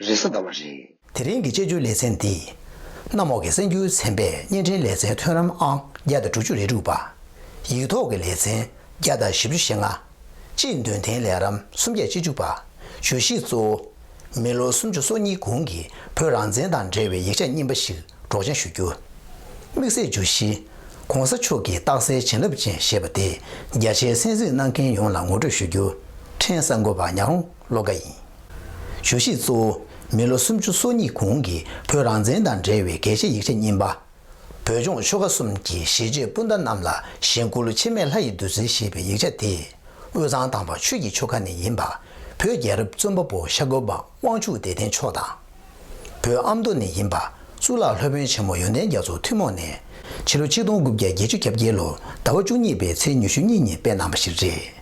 རེས་གཟའ་ཟླ་བ་རེད། དེ་རིང་གི་དཔྱད་བརྗོད་ལེ་ཚན་འདི། གནམ་འོག་གི་གསེར་འགྱུར་ཚན་པས་བརྙན་འཕྲིན་ལེ་ཚན་ཐོན་རམ་ཨང་བརྒྱ་དང་དྲུག་ཅུ་རེ་དྲུག་པ། ཡིག་ཐོག་གི་ལེ་ཚན་བརྒྱ་དང་བཞི་བཅུ་ཞེ་ལྔ། སྤྱིའི་འདོན་ཐེངས་ལེ་རམ་སུམ་བརྒྱ་ཅི་བཅུ་པ། བརྗོད་གཞི་གཙོ་བོ། མི་ལོ་སུམ་ཅུ་སོ་གཉིས་གོང་གི་བོད་རང་བཙན་དང་འབྲེལ་བའི་ཡིག་ཆ་རྙིང་པ་ཞིག་སྒྲོག་སྦྱང་ཞུ་རྒྱུ། དམིགས་བསལ་བརྗོད་གཞི། ྋགོང་ས་མཆོག་གི་རྟགས་གསལ་བྱིན་རླབས་ཅན་ཞེས་པ་དེ་རྒྱ་ཆེའི་གསན་གཟིགས་གནང་མཁན་ཡོངས་ལ་ངོ་སྤྲོད་ཞུ་རྒྱུ། ཕྲན་གསར་འགོད་པ་ཉག་རོང། ལོ་འགའ་ཡིན། ཞུ་གཞི་གཙོ་བོ། མི་ལོ་སུམ་ཅུ་སོ་གཉིས་གོང་གི་བོད་རང་བཙན་དང་འབྲེལ་བའི་གལ་ཆེ་ཡིག་ཆ་རྙིང་པ། བོད་ལྗོངས་ཆོལ་ཁ་གསུམ་གྱི་གཞིས་བྱེས་སྤུན་ཟླ་རྣམས་ལ་གཞེན་སྐུ་ལོ་འཆི་མེད་ལྷ་ཡི་བདུད་རྩི་ཞེས་པའི་ཡིག་ཆ་དེ། དབུས་གཙང་དང་བ་ཆོས་ཀྱི་ཆོལ་ཁ་ནས་ཡིན་པ། བོད་རྒྱལ་རབས་བཙོན་པ་པོ་ཤར་སྒོ་པདྨ་དབང་ཕྱུག་བདེ་ལྡན་མཆོག་དང། བོད་ཨ་མདོ་ནས་ཡིན་པ་གཙུག་ལག་སློབ་དཔོན་ཆེན་མོ་ཡོན་ཏན་རྒྱ་མཚོ་ཐུན་མོང་ནས་ཕྱི་ལོ་ཆིག་སྟོང་དགུ་བརྒྱ་བརྒྱད་ཅུ་གྱ་བརྒྱད་ལོར་ཟླ་བ་བཅུ་གཉིས་པའི་ཚེས་ཉི་ཤུ་གཉིས་ཉིན་སྤེལ་གནང་པ་ཞིག་རེད།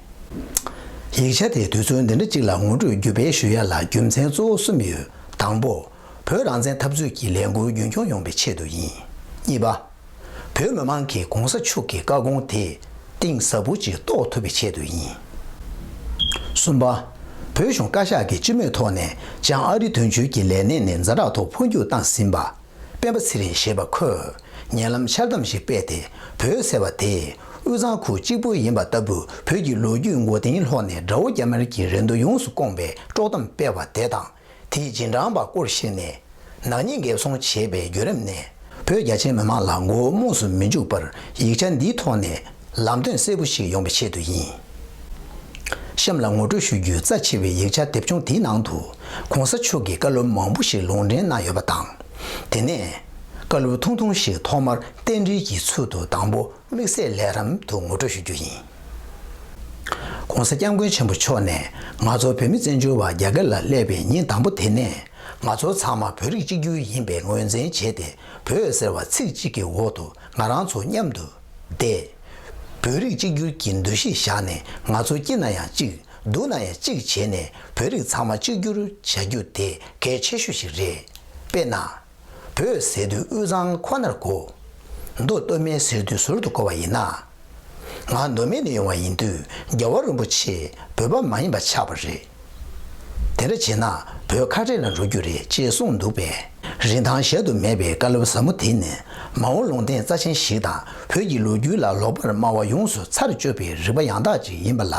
ཡིག་ཆ་དེའི་དུས་ཚོད་འདི་འདྲ་གཅིག་ལ་ངོ་སྤྲོད་བརྒྱུད་སྤེལ་ཞུ་ཡ་ལ་རྒྱུ་མཚན་གཙོ་བོ་གསུམ་ཡོད་དང་པོ། བོད་རང་བཙན་འཐབ་རྩོད་ཀྱི་ལས་འགུལ་རྒྱུན་འཁྱོངས་ཡོང་པའི་ཆེད་དུ་ཡིན། གཉིས་པ། བོད་མི་མང་གིས་གོང་ས་མཆོག་གི་བཀའ་དགོངས་དེ་གཏིང་ཟབ་པོ་ཅིག་རྟོགས་ཐུབ་པའི་ཆེད་དུ་ཡིན། གསུམ་པ། བོད་གཞུང་བཀའ་ཤག་གིས་སྤྱི་མོས་ཐོག་ནས་བྱང་ཨ་རི་དོན་གཅོད་ཀྱི་ལས་གནས་ནས་འཛའ་དྲག་ཐོག་འཕོ་འགྱུར་བཏང་ཟིན་པ། སྤེན་པ་ཚེ་རིང་ཞེས་པ་ཁོས་ཉེ་ལམ་འཆལ་གཏམ་ཞིག་སྤེལ་ཏེ་བོད་ཟེར་བ་དེ་དབུས་གཙང་ཁུལ་གཅིག་པུ་ཡིན་པ་ལྟ་བུ་བོད་ཀྱི་ལོ་རྒྱུས་མགོ་རྟིང་སློག་ནས་དགྲ་བོ་རྒྱ་དམར་གྱི་རེ་འདོད་ཡོངས་སུ་སྐོངས་པའི་དཀྲོག་གཏམ་སྤེལ་བ་དེ་དང། དེས་རྗེས་འབྲང་པ་སྐོར་བཤད་ནས། ནག་ཉེས་འགེབས་སྲུང་བྱེད་པའི་བརྒྱུད་རིམ་ནས། བོད་རྒྱ་ཆེའི་མི་མང་ལ་མགོ་བོ་རྨོངས་སུ་མི་འཇུག་པར་ཡིག་ཆ་འདིའི་ཐོག་ནས་ལམ་སྟོན་གསལ་པོ་ཞིག་ཡོང་བའི་ཆེད་དུ་ཡིན། གཤམ་ལ་ངོ་སྤྲོད་ཞུ་རྒྱུའི་རྩ་ཆེ་བའི་ཡིག་ཆ་དེབ་ཆུང་དེའི་ནང་དུ ྋགོང་ས་མཆོག་གི་བཀའ་སློབ་མང་པོ་ཞིག་ལུང་འདྲེན་གནང་ཡོད་པ་དང། དེ་ནས་བཀའ་སློབ་ཐུང་ཐུང་ཞིག་ཐོག་མར་རྟེན་འབྲེལ་གྱི་ཚུལ་དུ་དང་པོ། དམིགས་བསལ་ལས་རམ་དུ་ངོ་སྤྲོད་ཞུ་རྒྱུ་ཡིན། ྋགོང་ས ྋསྐྱབས་མགོན་ཆེན་པོ་མཆོག་ནས་ང་ཚོ་བོད་མི་བཙན་བྱོལ་བ་རྒྱ་སྐད་ལ་སླེབས་པའི་ཉིན་དང་པོ་དེ་ནས་ང་ཚོ་ཚང་མ་བོད་རིགས་གཅིག་གྱུར་ཡིན་པའི་ངོས་འཛིན་བྱས་ཏེ་བོད་ཟེར་བ་ཚིག་གཅིག་གི་འོག་ཏུ་ང་རང་ཚོ་མཉམ་དུ་བསྡད། བོད་རིགས་གཅིག་གྱུར་གྱི་འདུ་ཤེས་བཞག་ནས་ང་ཚོ་སྐྱིད་ན་ཡང་གཅིག་སྡུག་ན་ཡང་གཅིག་བྱས་ནས་བོད་རིགས་ཚང་མ་གཅིག་གྱུར་བྱ་རྒྱུ་དེ་གལ་ཆེ་ཤོས་ཤིག་རེད། དཔེར་ན། བོད་ཟེར་དུས་དབུས་གཙང་ཁོ་ནར་གོ། མདོ་སྟོད་སྨད་ཟེར་དུས་ཟུར་དུ་གོ་བ་ཡིན། ང་མདོ་སྨད་ནས་ཡོང་བ་ཡིན་དུས་རྒྱལ་བ་རིན་པོ་ཆེས་བོད་པ་མ་ཡིན་པ་ཆགས་པ་རེད། དེ་འདྲ་བྱས་ན་བོད་ཁ་བྲལ་ལ་འགྲོ་རྒྱུ་རེད་ཅེས་གསུངས་འདུག་པས། རིན་ཐང་གཞལ་དུ་མེད་པའི་བཀའ་སློབ་ཟབ་མོ་དེ་ནི་མ་འོངས་ལུང་བསྟན་རྩ་ཆེན་ཞིག་དང་བོད་ཀྱི་ལོ་རྒྱུས་ལ་ལོག་པར་སྨྲ་བ་ཡོངས་སུ་ཚར་གཅོད་པའི་རིག་པ་ཡང་དག་ཅིག་ཡིན་པ་ལ་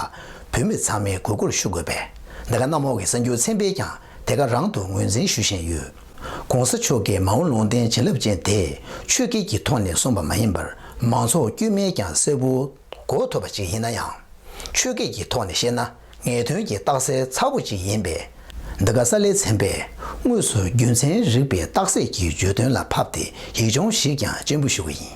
བོད་མི་ཚང་མས་གུས་བཀུར་ཞུ་དགོས་པས་འདི་ག་གནམ་འོག་གི་གསར་འགྱུར་ཚན་པས་ཀྱང་དེ་ག་རང་དུ་ངོས་འཛིན་ཞུ་བཞིན་ཡོད། ྋགོང་ས་མཆོག་གིས་མ་འོངས་ལུང་བསྟན་བྱིན་རླབས་ཅན་དེ་ཆོས་སྐད་ཀྱི་ཐོག་ནས་གསུངས་པ་མ་ཡིན་པར་མང་ཚོགས་དཀྱུས་མས་ཀྱང་གསལ་པོ་གོ་ཐུབ་པ་ཅིག་ཡིན་ན་ཡང། ཆོས་སྐད་ཀྱི་ཐོག་ནས་བཤད་ན་ངེས་དོན་གྱི་རྟགས་གསལ་ཚ་པོ་ཅིག་ཡིན་པས། འདི་ག་ས་ལེ་ཚན་པས་དངོས་སུ་རྒྱུ་མཚན་རིག་པའི་རྟགས་གསལ་གྱི་བརྗོད་དོན་ལ་ཕབ་སྟེ་ཡིག་ཆུང་ཞིག་ཀྱང་སྤྱན་འབུལ་ཞུ་བ་ཡིན།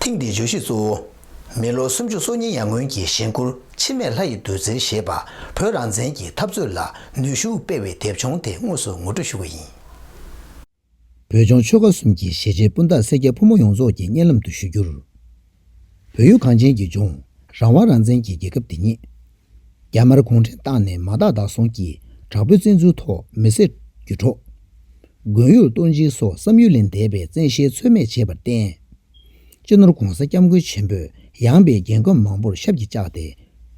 ཐེངས་འདིའི་བརྗོད་གཞི་གཙོ་བོ། མི་ལོ་སུམ་ཅུ་སོ་གཉིས་ཡར་སྔོན་གྱི་གཞེན་སྐུར་འཆི་མེད་ལྷ་ཡི་བདུད་རྩིར་ཞེས་པ་བོད་རང་བཙན་གྱི་འཐབ་རྩོད་ལ་ནུས་ཤུགས་སྤེལ་བའི་དེབ་ཆུང་དེ་དངོས་སུ་ངོ་སྤྲོད་ཞུ་བ་ཡིན། བོད་ལྗོངས་ཆོལ་ཁ་གསུམ་གྱི་ཞེ་ཆེན་སྤུན་ཟླ་སེར་སྐྱ་ཕོ་མོ་ཡོངས་རྫོགས་ཀྱི་སྙན་ལམ་དུ་ཞུ་རྒྱུར། བོད་ཡུལ་གངས་ཅན་གྱི་ལྗོངས། རང་དབང་རང་བཙན་གྱི་རྒྱལ་ཁབ་འདི་ཉིད། རྒྱ་དམར་གུང་ཁྲན་ཏང་ནས་མ་དག་དག་སོང་གི་དྲག་པོའི་བཙན་འཛུལ་ཐོག་མི་སེར། རྒྱུ་གྲོགས། དགོན་ཡུལ་ལྟོ་འཇིག་སོགས་བསམ་ཡུལ་ལས་འདས་པའི་བཙན་ཤེད་ཚོད་མེད་བྱས་པར་བརྟེན། གཅེས་ནོར་གོང་ས་སྐྱབས་མགོན་ཆེན་པོས་ཡངས་པའི་རྒྱན་གོས་མང་པོར་ཞབས་ཀྱིས་བཅགས་ཏེ།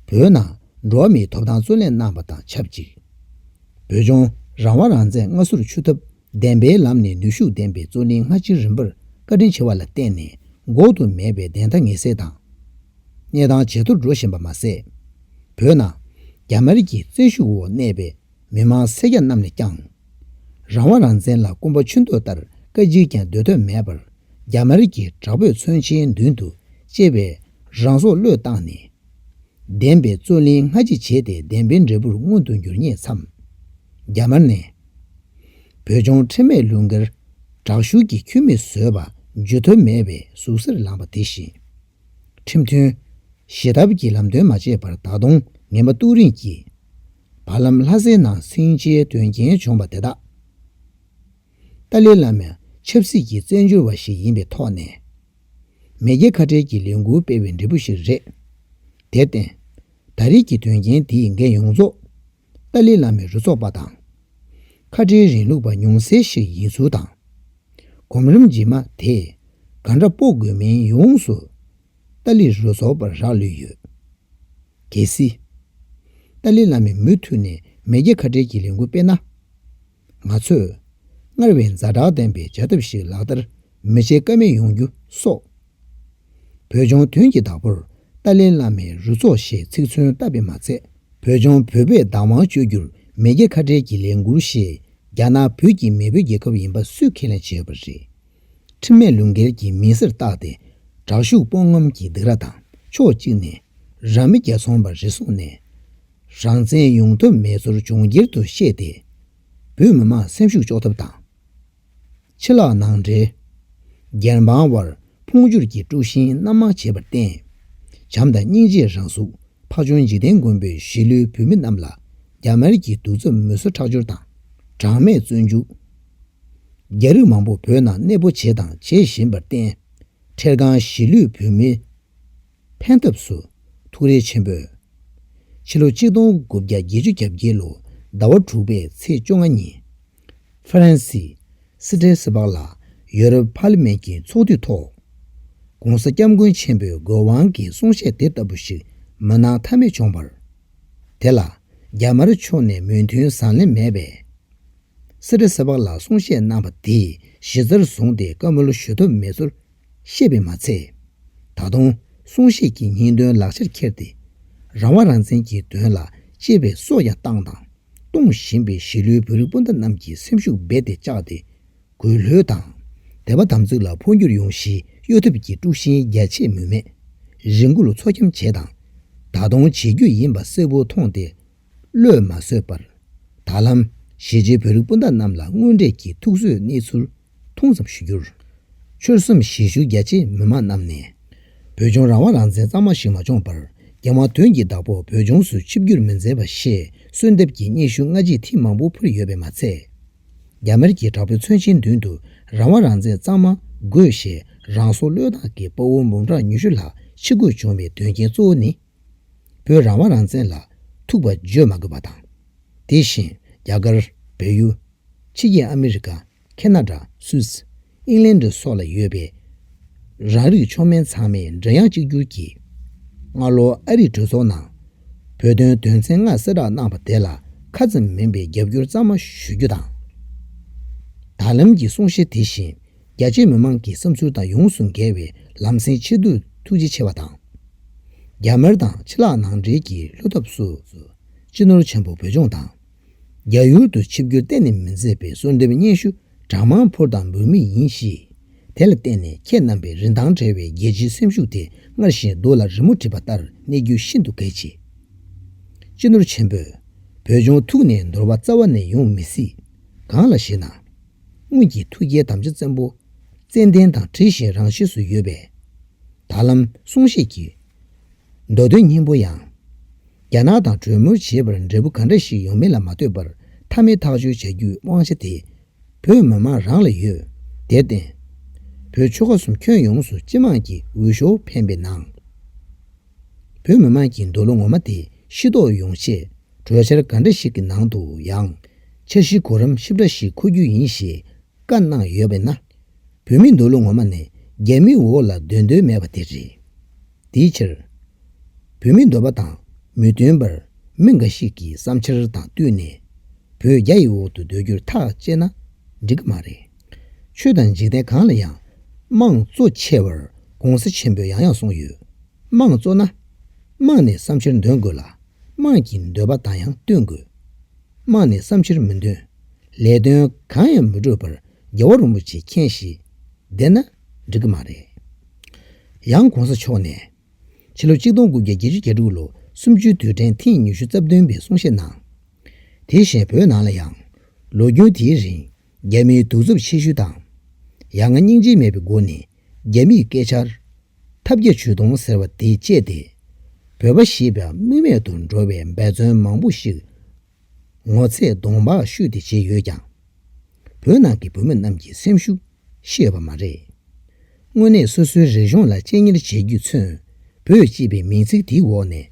བོད་ནང་འགྲོ་བ་མིའི་ཐོབ་ཐང་བརྩོན་ལེན་གནང་བ་དང་ཆབས་ཅིག་བོད་ལྗོངས་རང་དབང་རང་བཙན་སྔ་སོར་ཆུད་ཐབས་བདེན་པའི་ལམ་ནས་ནུས་ཤུགས་ལྡན་པའི་བརྩོན་ལེན་སྔ་ཕྱི་རིམ་པར་བཀའ་དྲིན་ཆེ་བ་ལ་བརྟེན་ནས་འགོག་ཏུ་མེད་པའི་བདེན་མཐའ་ངེས་གསལ་དང། གནས་སྟངས་ཇེ་མཐོར་འགྲོ་བཞིན་པ་མ་ཟད། བོད་ནང་རྒྱ་དམར་གྱི་བཙན་ཤུགས་འོག་གནས་པའི། མི་དམངས་སེར་སྐྱ་རྣམས་ནས་ཀྱང། རང་དབང་རང་བཙན་ལ་སྐུམ་པ་ཆུ་འདོད་ལྟར་བཀའ་སྤྱིར་ཀྱང་སྡོད་ཐབས་མེད་པར་རྒྱ་དམར་གྱི་དྲག་པོས་མཚོན་ཆའི་མདུན་དུ་གཅེས་པའི་རང་སྲོག་བློས་བཏང་ནས། བདེན་པའི་རྩོད་གླེང་སྔ་ཕྱི་བྱས་ཏེ་བདེན་པའི་འབྲས་བུར་མངོན་དུ་འགྱུར་ཉེས་མཚམས། རྒྱ་དམར་ནས། བོད་ལྗོངས་ཁྲིམས་མེད་ལུགས་འགལ། དྲག་ཤུགས་ཀྱིས་འཁྱུད་མི་བཟོས་པ་འཇུ་ཐབས་མེད་པའི་ཟུག་གཟེར་ལངས་པ་དེ་བཞིན། ཁྲིམས་མཐུན། བཞེས་ཐབས་ཀྱི་ལམ་སྟོན་མ་བྱས་པར་ད་དུང་ངན་པ་ཏུག་རིང་གིས། བར་ལམ་ལྷ་སའི་ནང་སྲིང་བྱའི་དོན་རྐྱེན་བྱུང་བ་དེ་དག་ཏཱ་ལའི་བླ་མས་ཆབ་སྲིད་ཀྱི་བཙན་བྱོལ་བ་ཞིག་ཡིན་པའི་ཐོག་ནས་མེས་རྒྱལ་ཁ་བྲལ་གྱི་ལས་འགུལ་སྤེལ་བའི་འབྲས་བུ་ཞིག་རེད། དེར་བརྟེན་ད་རེས་ཀྱི་དོན་རྐྱེན་འདིས་འགན་ཡོངས་རྫོགས་ཏཱ་ལའི་བླ་མའི་རུ་ཚོགས་པ་དང། ཁ་བྲལ་རིང་ལུགས་པ་ཉུང་ཟད་ཞིག་ཡིན་ཚུལ་དང། གོམ་རིམ་རྗེས་མ་དེས་ག་འདྲ་སྤོ་དགོས་མིན་ཡོངས་སུ་ཏཱ་ལའི་རུ་ཚོགས་པར་རག་ལུས་ཡོད། གལ་སྲིད། ཏཱ་ལའི་བླ་མས་མུ་མཐུད་ནས་མེས་རྒྱལ་ཁ་བྲལ་གྱི་ལས་འགུལ་སྤེལ་ན། ང་ཚོས་སྔར་བས་མཛའ་དྲག་ལྡན་པའི་བྱ་ཐབས་ཤིག་ལག་བསྟར་མི་བྱེད་ཀ་མེད་ཡོང་རྒྱུ་སོགས། བོད་ལྗོངས་དོན་གྱི་བདག་པོར་ཏཱ་ལའི་བླ་མའི་རུ་ཚོགས་ཞེས་ཚིག་མཚོན་བཏབ་པས་མ་ཚད། བོད་ལྗོངས་བོད་པའི་བདག་དབང་སྤྱོད་རྒྱུར་མེས་རྒྱལ་ཁ་བྲལ་གྱི་ལས་འགུལ་ཞེས་རྒྱ་ནག་བོད་ཀྱི་མེས་པོའི་རྒྱལ་ཁབ་ཡིན་པ་སུས་ཁས་ལེན་བྱས་པ་རེད། ཁྲིམས་མེད་ལུས་འགལ་གྱི་མི་སེར་བཏགས་ཏེ་དྲག་ཤུགས་སྤོང་ངམ་གྱི་སྡིགས་ར་དང་ཕྱོགས་གཅིག་ནས་རང་མི་རྒྱ་ཚོང་པ་རེ་བཟུང་ནས་རང་བཙན་ཡོང་ཐབས་མེད་ཚོར་ལྗོངས་སྒེར་དུ་བཤད་དེ་བོད་མི་མང་སེམས་ཤུགས་གཅོག་ཐབས་དང། ཕྱི་ལག་ནང་འབྲེལ། སྒེར་འབངས་དབར་འཕོངས་འགྱུར་གྱི་དཀྲུགས་ཤིང་སྣ་མང་བྱས་པར་བརྟེན། བྱམས་དང་སྙིང་རྗེ་རང་གཟུགས་འཕགས་ཆུང་འཇིག་རྟེན་མགོན་པོས་གཞིས་ལུས་བོད་མི་རྣམས་ལ་རྒྱ་དམར་གྱི་གདུག་རྩུབ་མུན་སོལ་ཁྲག་སྦྱོར་དང་གྲངས་མེད་བཙོན་འཇུག། རྒྱ་རིགས་མང་པོ་བོད་ནང་གནས་སྤོ་བྱས་དང་བྱེད་བཞིན་པར་བརྟེན། འཕྲལ་སྒང་གཞིས་ལུས་བོད་མི་ཕན་ཐབས་སུ་ཐུགས་རེ་ཆེན་པོས། ཕྱི་ལོ་གཅིག་སྟོང་དགུ་བརྒྱ་བརྒྱད་ཅུ་གྱ་བརྒྱད་ལོ་ཟླ་བ་དྲུག་པའི་ཚེས་བཅོ་ལྔ་ཉིན། ཧྥ་རན་སི། སི་ཏྲེ་སི་པག་ལ་ཡོ་རོབ་ཕ་ལི་མེན་གྱི་ཚོགས་འདུའི་ཐོག། ྋགོང་ས ྋསྐྱབས་མགོན་ཆེན་པོའི་དགོས་དབང་གི་གསུང་བཤད་དེ་ལྟ་བུ་ཞིག་མ་གནང་མཐའ་མེད་བྱུང་བར། དེ་ལ་རྒྱ་དམར་ཕྱོགས་ནས་མོས་མཐུན་བཟང་ལེན་མེད་པས། སེ་རེ་སེ་བག་ལ་གསུང་བཤད་གནང་བ་དེ་གཞི་རྩར་བཟུང་སྟེ་བཀའ་མོལ་ཞུ་ཐབས་མེད་ཚུལ་བཤད་པས་མ་ཚད། ད་དུང་གསུང་བཤད་ཀྱི་ཉིན་དོན་ལག་ཆར་འཁྱེར་ཏེ། རང་དབང་རང་བཙན་གྱི་དོན་ལ་གཅེས་པའི་སྲོག་ཀྱང་བཏང་དང་གཏོང་བཞིན་པའི་གཞིས་ལུས་བོད་རིགས་སྤུན་ཟླ་རྣམས་ཀྱི་སེམས་ཤུགས་རྦད་དེ་བཅག་སྟེ། གུས་ལྷོད་དང། དད་པ་དམ་ཚིག་ལ་འཕོ་འགྱུར་ཡོང་གཞི་གཡོ་ཐབས་ཀྱི་དཀྲུག་ཤིང་རྒྱ་ཆེ་མུ་མེད་རི་འགུལ་མཚོ་འཁྱམ་བྱས་དང། ད་དུང་བྱེད་རྒྱུ་ཡིན་པ་གསལ་བོ་མཐོང་སྟེ་བློས་མ་བཟོད་པར། ད་ལམ། གཞིས་བྱེས་བོད་རིགས་སྤུན་ཟླ་རྣམས་ལ་དངོས་འབྲེལ་གྱི་ཐུགས་གསོའི་གནས་ཚུལ་ཐུང་ཙམ་ཞུ་རྒྱུར། ཆོལ་གསུམ་གཞིས་བཞུགས་རྒྱ་ཆེའི་མི་མང་རྣམས་ནས། བོད་ལྗོངས་རང་དབང་རང་བཙན་གཙང་མ་ཞིག་མ་འབྱོངས་པར་རྒྱལ་དབང་དོན་གྱི་བདག་པོ་བོད་ལྗོངས་སུ་ཆིབས་བསྒྱུར་མི་མཛད་པ་ཞེས་གསོལ་འདེབས་ཀྱི་སྙན་ཞུ་སྔ་རྗེས་ཐེངས་མང་པོ་ཕུལ་ཡོད་པས་མ་ཚད། རྒྱ་དམར་གྱི་དྲག་པོའི་མཚོན་ཆའི་མདུན་དུ་རང་དབང་རང་བཙན་གཙང་མ་དགོས་ཞེས་རང་སྲོག་བློས་བཏང་གི་དཔའ་བོ་འབུམ་ཕྲག་ཉུ་ཤུ་ལྷག་ཕྱི་རྒོལ་བྱུང་བའི་དོན་རྐྱེན་གཙོ་བོ་ནི། བོད་རང་དབང་རང་བཙན་ལ་ཐུག་པ་བརྗོད་མ་དགོས་པ་དང། དེ་བཞིན་རྒྱ་གར། བལ་ཡུལ། ཕྱི་རྒྱལ་ཨ་མི་རི་ཀ། ཁེ་ན་ཏྲ། སུད། ཨིང་ལན་ཏྲ་སོགས་ལ་ཡོད་པའི། རང་རིགས་མཆོག་དམན་ཚང་མས་འབྲེལ་ཡང་གཅིག་གྱུར་གྱིས། སྔ་ལོ་ཨ་རིའི་གྲོས་ཚོགས་ནང། བོད་དོན་དོན་ཚན་ལྔ་གསལ་བསྒྲགས་གནང་བ་དེ་ལ་ཁ་ཙམ་མིན་པའི་རྒྱབ་སྐྱོར་གཙང་མ་ཞུ་རྒྱུ་དང། ད་ལམ་གྱི་གསུང་བཤད་དེ་བཞིན། རྒྱ་ཆེའི་མི་མང་གི་བསམ་ཚུལ་དང་ཡོངས་སུ་འགལ་བའི་ལམ་སེང་ཆེད་དུ་ཐུགས་རྗེ་ཆེ་བ་དང། རྒྱ་དམར་དང་ཕྱི་ལག་ནང་འབྲེལ་གྱི་ལྷོད་ཐབས་སུ་སྤྱི་ནོར་ཆེན་པོ་བོད་ལྗོངས་དང། རྒྱ་ཡུལ་དུ་ཆིབས་བསྒྱུར་གཏན་ནས་མི་མཛད་པའི་གསོལ་འདེབས་སྙན་ཞུ་གྲངས་མང་ཕུལ་དང་འབུལ་མུས་ཡིན་གཤིས། དེ་ལ་བརྟེན་ནས་ཁྱེད་རྣམ་པའི་རིན་ཐང་བྲལ་བའི་རྒྱལ་སྤྱིའི་སེམས་ཤུགས་དེ་སྔར་བཞིན་སྡུག་ལ་རི་མོ་བྲིས་པ་ལྟར་གནས་རྒྱུ་ཤིན་ཏུ་གལ་ཆེ། སྤྱི་ནོར་ཆེན་པོས་བོད་ལྗོངས་ཐུགས་ནས་འདོར་བ་རྩ་བ་ནས་ཡོང་མི་སྲིད། གང་ལ་ཞེ་ན། སྔོན་གྱི་ཐུགས་རྒྱལ་དམ་བཅའ་བཙན་པོ། ཙནྡན་དང་དྲི་བཞིན་རང་གཤིས་སུ་ཡོད་པས། ད་ལམ་གསུང་བཤད་ཀྱི། མདོ་དོན་སྙིང་པོ་ཡང། རྒྱ་ནག་དང་གྲོས་མོལ་བྱེད་པར་འབྲས་བུ་ག་འདྲ་ཞིག་ཡོང་མིན་ལ་མ་ལྟོས་པར་མཐའ་མའི་ཐག་གཅོད་བྱ་རྒྱུའི་དབང་ཆ་དེ། བོད་མི་མང་རང་ལ་ཡོད། དེར་བརྟེན། བོད་ཆོལ་ཁ་གསུམ་ཁྱོན་ཡོངས་སུ་སྤྱི་དམངས་ཀྱི་འོས་ཤོག་འཕེན་པའི་ནང། བོད་མི་དམངས་ཀྱི་འདོད་བློ་ངོ་མ་དེ་ཤི་དོགས་ཡོང་ཆེད། གྲོས་འཆར་འགའ་འདྲ་ཞིག་གི་ནང་དུ་ཡང། འཆར་གཞིའི་གོ་རིམ་ཧྲིབ་ར་ཞིག་འཁོད་རྒྱུ་ཡིན་ཞེས་བཀའ་གནང་ཡོད་པས་ན། བོད་མི་འདོད་ལུགས་ངོ་མ་ནི་རྒྱ་མིའི་འོག་ལ་སྡོད་འདོད་མེད་པ་དེ་རེད། དེའི་ཕྱིར། བོད་མིའི་འདོད་པ་དང་མི་མཐུན་པར་མི་འགའ་ཞིག་གི་བསམ་འཆར་དང་བསྟུན་ནས། བོད་རྒྱ་ཡི་འོག་ཏུ་སྡོད་རྒྱུར་ཐག་བཅད་ན་འགྲིག་གི་མ་རེད། ཆོས་དང་འཇིག་རྟེན་གང་ལ་ཡང་དམངས་གཙོ་ཆེ་བར་དགོངས་སེལ་ཆེན་པོས་ཡང་ཡང་གསུངས་ཡོད། དམངས་གཙོ་ན། དམངས་ནས་བསམ་ཕྱིར་འདོན་དགོས་ལ། དམངས་ཀྱི་འདོད་པ་དང་ཡང་བསྟུན་དགོས། དམངས་ནས་བསམ་ཕྱིར་མི་འདོན། ལས་དོན་གང་ཡང་མི་སྒྲུབ་པར་རྒྱལ་བ་རིན་པོ་ཆེ་མཁྱེན་གཞིས་བསྡད་ན་འགྲིག་གི་མ་རེད། ཡང་གོང་ས་མཆོག་ནས། ཕྱི་ལོ་གཅིག་སྟོང་དགུ་བརྒྱ་བརྒྱད་ཅུ་གྱ་དྲུག་ལོ་གསུམ་བཅུའི་དུས་དྲན་ཐེངས་ཉི་ཤུ་རྩ་བདུན་པའི་གསུང་བཤད་གནང། དེ་བཞིན་བོད་ནང་ལ་ཡང། ལོ་རྒྱུས་དེའི་རིང་རྒྱ་མིའི་གདུག་རྩུབ་ཆེ་ཤོས་དང། ཡ་ང་སྙིང་རྗེ་མེད་པའི་སྒོ་ནས་རྒྱ་མིས་སྐད་ཆར། ཐབས་བརྒྱ་ཇུས་སྟོང་ཟེར་བ་དེ་སྤྱད་དེ། བོད་པ་ཞེས་པའི་དམིགས་མེད་དུ་འགྲོ་བའི་འབད་བརྩོན་མང་པོ་ཞིག། ངོ་ཚས་གདོང་འབག་བཤུས་ཏེ་བྱས་ཡོད་ཀྱང། བོད་ནང་གི་བོད་མི་རྣམས་ཀྱི་སེམས་ཤུགས་ཤེས་ཡོད་པ་མ་རེད། དངོས་གནས་སོ་སོའི་རིག་གཞུང་ལ་གཅེས་གཉེར་བྱེད་རྒྱུས་མཚོན། བོད་ཅེས་པའི་མིང་ཚིག་དེའི་འོག་ནས།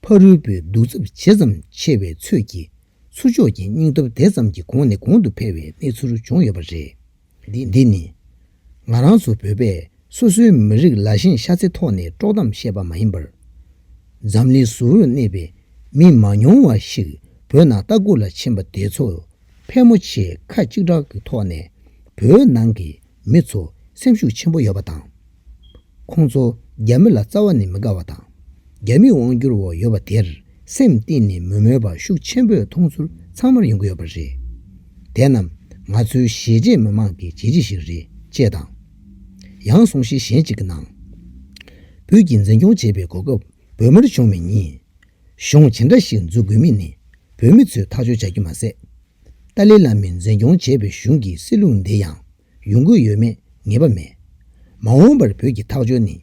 ཕ་རུལ་པོའི་གདུག་རྩུབ་ཇི་ཙམ་ཆེ་བའི་ཚོད་ཀྱིས་ཚུར་ཕྱོགས་ཀྱི་སྙིང་སྟོབས་དེ་ཙམ་གྱིས་གོང་ནས་གོང་དུ་འཕེལ་བའི་གནས་ཚུལ་བྱུང་ཡོད་པ་རེད། འདི་ནི། ང་རང་ཚོ་བོད་པས་སོ་སོའི་མི་རིགས་ལ་ཞེན་ཤ་ཚའི་ཐོག་ནས་དཀྲོག་གཏམ་བཤད་པ་མ་ཡིན་པར། འཛམ་གླིང་གཟུ་བོར་གནས་པའི་མི་མང་ཉུང་བ་ཞིག་བོད་ནང་ལྟ་སྐུལ་ལ་ཕྱིན་པ་དེ་ཚོ་ཕལ་མོ་ཆེས་ཁ་གཅིག་གྲགས་ཀྱི་ཐོག་ནས་བོད་ནང་གི་མི་ཚོ་སེམས་ཤུགས་ཆེན་པོ་ཡོད་པ་དང། ཁོང་ཚོ་རྒྱ་མི་ལ་རྩ་བ་ནས་མི་དགའ་བ་དང། རྒྱ་མིས་དབང་བསྒྱུར་འོག་ཡོད་པ་དེར་སེམས་གཏིང་ནས་མི་མོས་པ་ཤུགས་ཆེན་པོས་མཐོང་ཚུལ་ཚང་མར་ཡོང་གི་ཡོད་པ་རེད། དེ་རྣམས་ང་ཚོའི་གཞེས་བྱེས་མི་མང་གི་བྱས་རྗེས་ཤིག་རེད་ཅེས་དང། ཡང་གསུང་བཤད་གཞན་གཅིག་གི་ནང། བོད་ཀྱི་འཛིན་སྐྱོང་བྱེད་པའི་གོ་སྐབས་བོད་མིར་བྱུང་མེད་ཉིན། གཞུང་ཇི་འདྲ་ཞིག་འཛུགས་དགོས་མིན་ནི་བོད་མི་ཚོས་ཐག་གཅོད་བྱ་རྒྱུ་མ་ཟད། ཏཱ་ལའི་བླ་མས་འཛིན་སྐྱོང་བྱེད་པའི་གཞུང་གི་སྲིད་ལུགས་འདི་ཡང་ཡོང་གི་ཡོད་མེད་ངེས་པ་མེད། མ་འོངས་པར་བོད་ཀྱི་ཐག་གཅོད་ནི་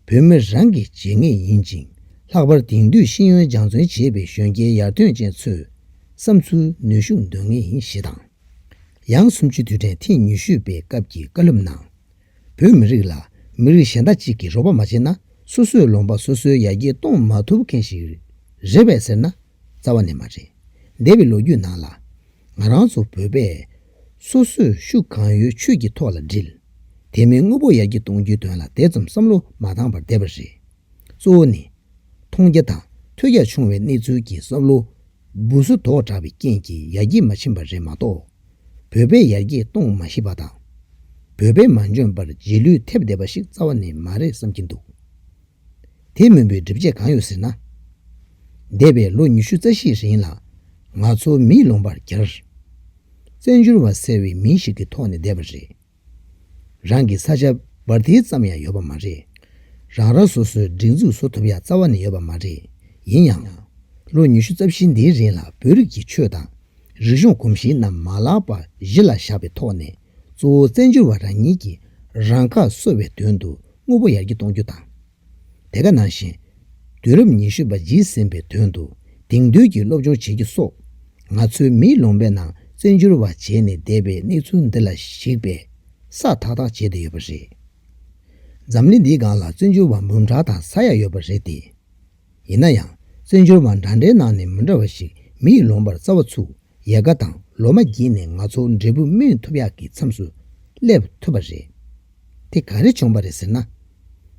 བོད་མི་རང་གིས་བྱེད་ངེས་ཡིན་ཅིང་ལྷག་པར་དེང་དུས་ཤེས་ཡོན་སྦྱང་བརྩོན་བྱེད་པའི་གཞོན་སྐྱེས་ཡར་ཐོན་ཅན་ཚོས་བསམ་ཚུལ་ནུས་ཤུགས་འདོན་ངེས་ཡིན་ཞེས་དང། ཡང་སུམ་ཅུའི་དུས་དྲན་ཐེངས་ཉི་ཤུ་པའི་སྐབས་ཀྱི་བཀའ་སློབ་ནང། བོད་མི་རིགས་ལ་མི་རིགས་གཞན་དག་ཅིག་གིས་རོགས་པ་མ་བྱས་ན་སོ་སོས་ལོང་པ་སོ་སོའི་ཡར་རྒྱས་གཏོང་མ་ཐུབ་མཁན་ཞིག་རེད་བས་ཟེར་ན་རྩ་བ་ནས་མ་རེད། འདས་པའི་ལོ་རྒྱུས་ནང་ལ། ང་རང་ཚོ་བོད་པས། སོ་སོས་ཤུགས་གང་ཡོད་ཆོས་ཀྱི་ཐོག་ལ་བསྒྲིལ། དེ་མིན་དངོས་པོ་ཡར་རྒྱས་གཏོང་རྒྱུའི་དོན་ལ་དེ་ཙམ་བསམ་བློ་མ་བཏང་བར་བསྡད་པ་རེད། གཙོ་བོ་ནི། མཐོང་རྒྱ་དང་ཐོས་རྒྱ་ཆུང་བའི་གནས་ཚུལ་གྱིས་བསམ་བློ་འབུ་སོ་དོག་དྲགས་པའི་རྐྱེན་གྱིས་ཡར་རྒྱས་མ་ཕྱིན་པ་རེད་མ་གཏོགས། བོད་པས་ཡར་རྒྱས་གཏོང་མ་ཤེས་པ་དང། བོད་པས་མ་འཇོན་པར་རྗེས་ལུས་ཐེབས་བསྡད་པ་ཞིག་རྩ་བ་ནས་མ་རེད་བསམ་གྱིན་འདུག། དེ་མིན་པའི་སྒྲིབ་བྱེད་གང་ཡོད་ཟེར་ན། འདས་པའི་ལོ་ཉི་ཤུ་རྩ་བཞིའི་རིང་ལ་ང་ཚོ་མིའི་ལོང་པར་གྱར། བཙན་བྱོལ་བ་ཟེར་བའི་མིང་ཞིག་གི་ཐོག་ནས་བསྡད་པ་རེད། རང་གི་ས་ཆ་སྦར་ཐིལ་ཙམ་ཡང་ཡོད་པ་མ་རེད། རང་རང་སོ་སོའི་སྒྲིག་འཛུགས་བཟོ་ཐུབ་ཡ་རྩ་བ་ནས་ཡོད་པ་མ་རེད། ཡིན་ཡང། ལོ་ཉི་ཤུ་རྩ་བཞི་འདིའི་རིང་ལ་བོད་རིགས་ཀྱི་ཆོས་དང་རིག་གཞུང་གོམས་གཤིས་རྣམས་མ་ལག་པ་གཞི་ལ་བཞག་པའི་ཐོག་ནས་གཙོ་བོ་བཙན་བྱོལ་བ་རང་ཉིད་ཀྱིས་རང་ཁ་གསོ་བའི་དོན་དུ་དངོས་པོ་ཡར་རྒྱས་གཏོང་རྒྱུ་དང། དེ་ག་ནང་བཞིན། དུས་རབས་ཉི་ཤུ་པ་བརྗིད་ཟིན་པའི་དོན་དུ་དེང་དུས་ཀྱི་སློབ་སྦྱོང་བྱེད་རྒྱུ་སོགས། ང་ཚོའི་མིའི་ལུང་པའི་ནང་བཙན་བྱོལ་བ་བྱས་ནས་བསྡད་པའི་གནས་ཚུལ་འདི་ལ་གཞིགས་པས་ས་ཐག་ཐག་བྱས་བསྡད་ཡོད་པ་རེད། འཛམ་གླིང་འདིའི་སྒང་ལ་བཙན་བྱོལ་བ་མུན་དྲག་དང་ས་ཡག་ཡོད་པ་རེད་དེ། ཡིན་ན་ཡང་བཙན་བྱོལ་བ་འདྲ་འདྲའི་ནང་ནས་མི་འདྲ་བ་ཞིག་མི་ཡིས་ལོངས་པར་རྩ་བ་ཚུགས་ཡལ་ག་དང་ལོ་མ་བགྱིས་ནས་ང་ཚོ་འབྲས་བུ་སྨིན་ཐུབ་ཡག་གི་མཚམས་སུ་སླེབས་ཐུབ་པ་རེད། དེ་ག་རེ་བྱུང་བ་རེད་ཟེར་ན།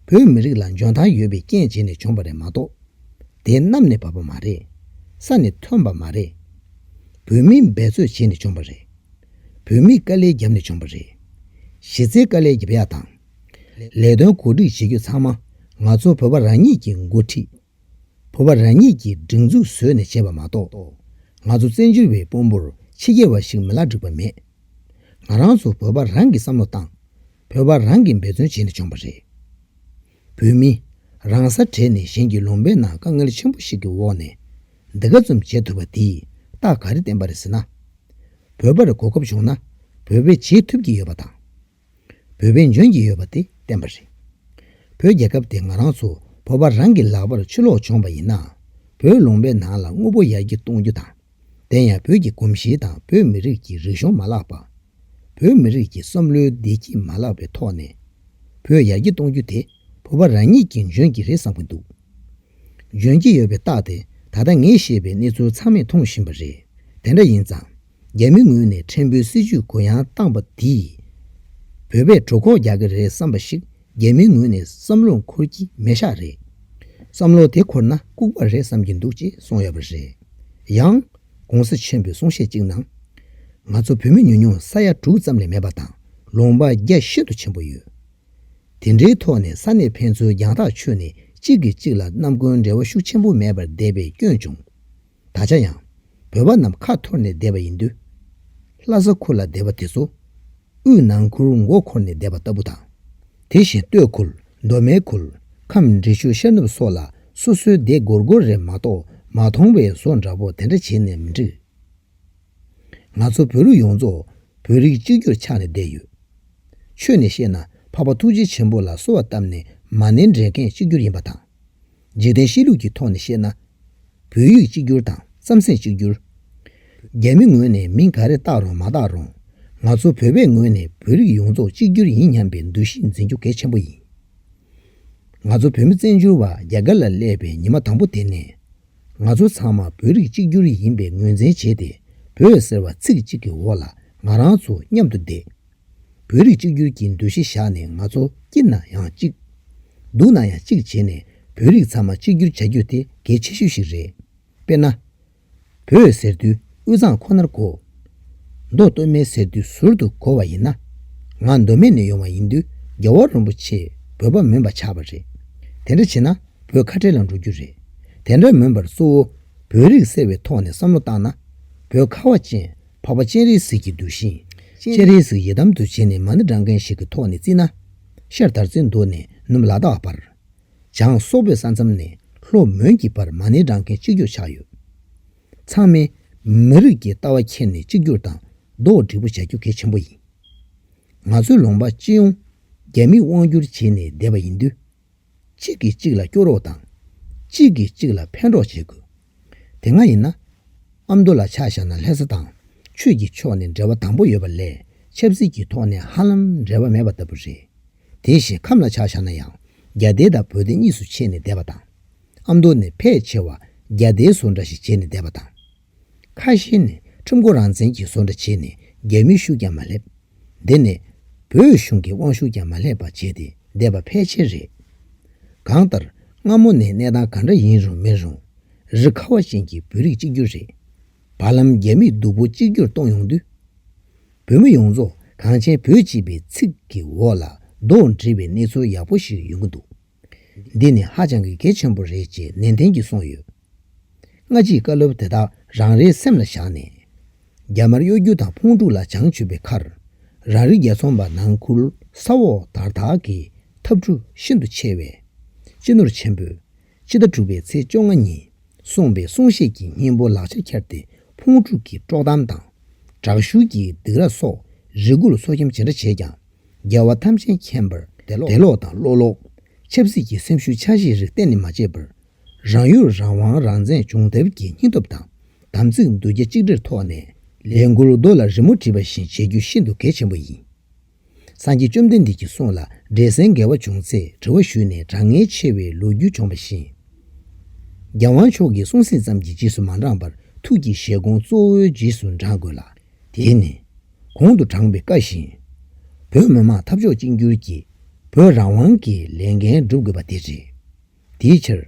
བོད་མི་རིགས་ལ་འཇོན་ཐང་ཡོད་པའི་རྐྱེན་བྱས་ནས་བྱུང་བ་རེད་མ་གཏོགས། དེ་གནམ་ནས་བབས་པ་མ་རེད། ས་ནས་ཐོན་པ་མ་རེད། བོད་མིས་འབད་རྩོད་བྱས་ནས་བྱུང་བ་རེད། བོད་མིས་དཀའ་ལས་བརྒྱབ་ནས་བྱུང་བ་རེད། གཞི་རྩའི་དཀའ་ལས་བརྒྱབ་ཡག་དང། ལས་དོན་གོ་སྒྲིག་བྱེད་རྒྱུ་ཚང་མ་ང་ཚོ་བོད་པ་རང་ཉིད་ཀྱིས་འགོ་ཁྲིད། བོད་པ་རང་ཉིད་ཀྱིས་སྒྲིག་འཛུགས་བཟོས་ནས་བྱས་པ་མ་གཏོགས། ང་ཚོ་བཙན་བྱོལ་བའི་དཔོན་པོར་ཕྱི་རྒྱལ་བ་ཞིག་མི་ལ་འགྲིག་པ་མེད། ང་རང་ཚོ་བོད་པ་རང་གིས་བསམ་བློ་བཏང། བོད་པ་རང་གིས་འབད་བརྩོན་བྱས་ནས་བྱུང་བ་རེད། བོད་མི་རང་ས་བྲལ་ནས་གཞན་གྱི་ལུང་པའི་ནང་དཀའ་ངལ་ཆེན་པོ་ཞིག་གི་འོག་ནས་འདི་ག་ཙམ་བྱེད་ཐུབ་པ་དེས་རྟགས་ག་རེ་བསྟན་པ་རེད་ཟེར་ན། བོད་པར་གོ་སྐབས་བྱུང་ན་བོད་པས་བྱེད་ཐུབ་ཀྱི་ཡོད་པ་དང། བོད་བན་བྱོན་གྱི་ཡོད་པ་དེ་བསྟན་པ་རེད། བོད་རྒྱལ་ཁབ་དེ་ང་རང་ཚོ་བོད་པ་རང་གི་ལག་པར་ཆུ་ལོག་བྱུང་བ་ཡིན་ནའང་བོད་ལུང་པའི་ནང་ལ་དངོས་པོ་ཡར་རྒྱས་གཏོང་རྒྱུ་དང། དེ་ཡང་བོད་ཀྱི་གོམས་གཤིས་དང་བོད་མི་རིགས་ཀྱི་རིག་གཞུང་མ་བརླག་པ། བོད་མི་རིགས་ཀྱི་བསམ་བློའི་བདེ་སྐྱིད་མ་བརླག་པའི་ཐོག་ནས། བོད་ཡར་རྒྱས་གཏོང་རྒྱུ་དེ་བོད་པ་རང་ཉིད་ཀྱིས་འཇོན་གྱི་རེད་བསམ་གྱི་འདུག་འཇོན་གྱི་ཡོད་པའི་རྟགས་དེ་ད་ལྟ་ངས་བཤད་པའི་གནས་ཚུལ་ཚང་མས་མཐོང་བཞིན་པ་རེད་དེ་འདྲ་ཡིན་ཙང། རྒྱ་མི་ངོས་ནས་ཕྲན་བུའི་སྲིད་ཇུས་གུ་ཡངས་བཏང་བ་འདིས། བོད་པས་གྲོད་ཁོག་རྒྱག་གི་རེད་བསམ་པ་ཞིག་རྒྱ་མིའི་ངོས་ནས་བསམ་བློ་འཁོར་གྱི་མེད་ཤག་རེད། བསམ་བློ་དེ་འཁོར་ན་ལྐུགས་པ་རེད་བསམ་གྱི་འདུག་ཅེས་གསུངས་ཡོད་པ་རེད། ཡང། གོང་ས་ཆེན་པོའི་གསུང་བཤད་ཅིག་ནང། ང་ཚོ་བོད་མི་ཉུང་ཉུང་ས་ཡ་དྲུག་ཙམ་ལས་མེད་པ་དང་ལོང་པ་རྒྱ་ཤིན་ཏུ་ཆེན་པོ་ཡོད། དེ་འདྲའི་ཐོག་ནས་ས་གནས་ཕན་ཚུན་རྒྱང་ཐག་ཆོད་ནས་གཅིག་གིས་གཅིག་ལ་རྣམ་ཀུན་འབྲེལ་བ་ཤུགས་ཆེན་པོ་མེད་པར་བསྡད་པའི་སྐྱོན་བྱུང། ད་ཆ་ཡང་བོད་པ་རྣམས་ཁ་འཐོར་ནས་བསྡད་པ་ཡིན་དུས། ལྷ་ས་ཁུལ་ལ་བསྡད་པ་དེ་ཚོ་དབུས་ནང་ཁུལ་མགོ་འཁོར་ནས་བསྡད་པ་ལྟ་བུ་དང། དེ་བཞིན་སྟོད་ཁུལ་མདོ་སྨད་ཁུལ་ཁམས་འབྲི་ཆུ་ཤར་ནུབ་སོགས་ལ་སོ་སོའི་སྡེ་སྒོར་སྒོར་རེ་མ་གཏོགས་མ་མཐོང་བའི་བཟོ་འདྲ་བོ་དེ་འདྲ་བྱེད་ནས་མི་འགྲིག། ང་ཚོ་བོད་ལུགས་ཡོངས་རྫོགས་བོད་རིགས་གཅིག་གྱུར་ཆགས་ནས་བསྡད་ཡོད། ཆོས་ནས་བཤད་ན་འཕགས་པ་ཐུགས་རྗེ་ཆེན་པོ་ལ་གསོལ་བ་བཏབ་ནས་མ་ནི་འདྲེན་མཁན་གཅིག་གྱུར་ཡིན་པ་དང། འཇིག་རྟེན་གཤིས་ལུགས་ཀྱི་ཐོག་ནས་བཤད་ན། བོད་ཡིག་གཅིག་གྱུར་དང་རྩམ་ཟན་གཅིག་གྱུར། རྒྱ་མི་ངོས་ནས་མིང་ག་རེ་བཏགས་རུང་མ་བཏགས་རུང། ང་ཚོ་བོད་པའི་ངོས་ནས་བོད་རིགས་ཡོངས་རྫོགས་གཅིག་གྱུར་ཡིན་སྙམ་པའི་འདུ་ཤེས་འཛིན་རྒྱུ་གལ་ཆེན་པོ་ཡིན། ང་ཚོ་བོད་མི་བཙན་བྱོལ་བ་རྒྱ་གར་ལ་སླེབས་པའི་ཉི་མ་དང་པོ་དེ་ནས། ང་ཚོ་ཚང་མ་བོད་རིགས་གཅིག་གྱུར་ཡིན་པའི་ངོས་འཛིན་བྱས་ཏེ་བོད་ཟེར་བ་ཚིག་གཅིག་གི་འོག་ལ་ང་རང་ཚོ་མཉམ་དུ་བསྡད། བོད་རིགས་གཅིག་གྱུར་གྱི་འདུ་ཤེས་བཞག་ནས་ང་ཚོ་སྐྱིད་ན་ཡང་གཅིག། སྡུག་ན་ཡང་གཅིག་བྱེད་ནས་བོད་རིགས་ཚང་མ་གཅིག་གྱུར་བྱ་རྒྱུ་དེ་གལ་ཆེ་ཤོས་ཤིག་རེད། དཔེར་ན། བོད་ཟེར་དུས་དབུས་གཙང་ཁོ་ནར་གོ། མདོ་སྟོད་སྨད་ཟེར་དུས་ཟུར་དུ་གོ་བ་ཡིན་ན། ང་མདོ་སྨད་ནས་ཡོང་བ་ཡིན་དུས་རྒྱལ་བ་རོན་པོ་ཆེས་བོད་པ་མུན་པ་ཆགས་པ་རེད། དེ་འདྲ་བྱེད་ན་བོད་ཁ་བྲལ་ལ་འགྲོ་རྒྱུ་རེད། དེ་འདྲ་མིན་པར་གཙོ་བོ་བོད་རིགས་ཟེར་བའི་ཐོག་ནས་བསམ་བློ་བཏང་ན། བོད་ཁ་བ་ཅན། འཕགས་པ་སྤྱན་རས་གཟིགས་ཀྱི་གདུལ་ཞིང། སྤྱན་རས་གཟིགས་ཡི་དམ་དུ་བྱས་ནས་མ་ཎི་བགྲང་མཁན་ཞིག་གི་ཐོག་ནས་བརྩིས་ན། ཤར་དར་ཚེ་མདོ་ནས་ནུབ་ལ་དྭགས་བར། བྱང་སོག་པོའི་ས་མཚམས་ནས་ལྷོ་མོན་གྱི་བར་མ་ཎི་བགྲང་མཁན་གཅིག་གྱུར་ཆགས་ཡོད། ཚང་མས་མི་རིགས་ཀྱི་ལྟ་བ་འཁྱེར་ནས་གཅིག་གྱུར་དང་རྡོག་སྒྲིག་པོ་བྱ་རྒྱུ་གལ་ཆེན་པོ་ཡིན། ང་ཚོའི་ལུང་པ་སྤྱི་ཡོངས་རྒྱ་མིས་དབང་བསྒྱུར་བྱས་ནས་བསྡད་པ་ཡིན་དུས། གཅིག་གིས་གཅིག་ལ་སྐྱོ་རོགས་དང། གཅིག་གིས་གཅིག་ལ་ཕན་རོགས་བྱེད་དགོས། དེ་སྔ་ཡིན་ན། ཨ་མདོ་ལ་ཆ་བཞག་ན་ལྷ་ས་དང་ཆོས་ཀྱི་ཕྱོགས་ནས་འབྲེལ་བ་དམ་པོ་ཡོད་པ་ལས་ཆབ་སྲིད་ཀྱི་ཐོག་ནས་ཧ་ལམ་འབྲེལ་བ་མེད་པ་ལྟ་བུ་རེད། དེ་བཞིན་ཁམས་ལ་ཆ་བཞག་ན་ཡང་རྒྱ་སྡེ་དང་བོད་སྡེ་གཉིས་སུ་ཕྱེས་ནས་བསྡད་པ་དང། ཨ་མདོ་ནས་ཕལ་ཆེ་བ་རྒྱ་སྡེའི་བཟོ་འདྲ་ཞིག་བྱས་ནས་བསྡད་པ་དང། ཁ་བཤད་ནས་ཁྲིམས་སྒོ་རང་བཙན་གྱི་བཟོ་འདྲ་བྱས་ནས་རྒྱ་མིའི་ཤུགས་ཀྱང་མ་སླེབས། འདི་ནས། བོད་གཞུང་གི་དབང་ཤུགས་ཀྱང་མ་སླེབས་པ་བྱས་ཏེ་བསྡད་པ་ཕལ་ཆེར་རེད། གང་ལྟར། སྔ་མོ་ནས་གནས་སྟངས་ག་འདྲ་ཡིན་རུང་མིན་རུང། རི་ཁ་བ་ཅན་གྱི་བོད་རིགས་གཅིག་གྱུར་རེད། བར་ལམ་རྒྱ་མིས་སྡུག་པོ་གཅིག་གྱུར་གཏོང་ཡོང་དུས། བོད་མི་ཡོངས་རྫོགས་གངས་ཅན་བོད་སྤྱི་པའི་ཚིག་གི་འོག་ལ་རྡོ་འདྲིལ་བའི་གནས་ཚུལ་ཡག་པོ་ཞིག་ཡོང་གི་འདུག། འདི་ནི་ཧ་ཅང་གི་གལ་ཆེན་པོ་རེད་ཅེས་ནན་ཏན་གྱིས་གསུངས་ཡོད། སྔ་ཕྱིའི་བཀའ་སློབ་དེ་དག་རང་རེའི་སེམས་ལ་བཞག་ནས། རྒྱ་དམར་གཡོ་སྒྱུ་དང་ཕུང་དཀྲུག་ལ་བྱང་ཆུབ་པའི་ཁར། རང་རིགས་རྒྱལ་ཚོང་པ་ནང་ཁུལ་ས་འོག་དར་དག་གི་འཐབ་འཁྲུ་ཤིན་ཏུ་ཆེ་བས། སྤྱི་ནོར་ཆེན་པོས་ཕྱི་ཟླ་དྲུག་པའི་ཚེས་བཅོ་ལྔ་ཉིན་གསུངས་པའི་གསུང་བཤད་ཀྱི་སྙིང་པོ་ལག་ཆར་འཁྱེར་ཏེ་ཕུང་དཀྲུག་གི་དཀྲོག་གཏམ་དང། དྲག་ཤུལ་གྱི་སྡིགས་ར་སོགས་རེ་སྒུག་ལ་སོ་སྐྱེམས་ཇི་འདྲ་བྱས་ཀྱང། རྒྱལ་བ་ཐམས་ཅད་མཁྱེན་པར་དད་ལོག་དང་བློ་ལོག། ཆབ་སྲིད་ཀྱི་སེམས་ཤུགས་ཆགས་གཞིའི་རིགས་གཏན་ནས་མ་བརྗེད་པར། རང་ཡུལ་རང་དབང་རང་བཙན་སྦྱོང་ཐབས་ཀྱི་སྙིང་སྟོབས་དང་དམ་ཚིག་མདུད་རྒྱ་གཅིག་སྒྲིལ་ཐོག་ནས་ལས་འགུལ་རྡོ་ལ་རི་མོ་བྲིས་པ་བཞིན་བྱེད་རྒྱུ་ཤིན་ཏུ་གལ་ཆེན་པོ་ཡིན། སངས་རྒྱས་བཅོམ་ལྡན་འདས་ཀྱི་གསུང་ལ་འབྲེལ་ཟིན་འགལ་བ་བྱུང་ཚེ་དྲི་བ་ཞུས་ནས་དྲང་ངེས་ཕྱེ་བའི་ལོ་རྒྱུས་བྱུང་བ་བཞིན། རྒྱལ་དབང་མཆོག་གི་གསུང་ཟིན་ཙམ་གྱིས་རྗེས་སུ་མ་འབྲངས་པར་ཐུགས་ཀྱི་བཞེད་དགོངས་གཙོ་བོའི་རྗེས་སུ་འབྲངས་དགོས་ལ། དེས་ནི། གོང་དུ་བགྲངས་པའི་བཀའ་བཞིན། བོད་མི་དམངས་འཐབ་ཕྱོགས་གཅིག་འགྱུར་གྱིས་བོད་རང་དབང་གི་ལས་འགན་སྒྲུབ་དགོས་པ་དེ་རེད། དེའི་ཕྱིར།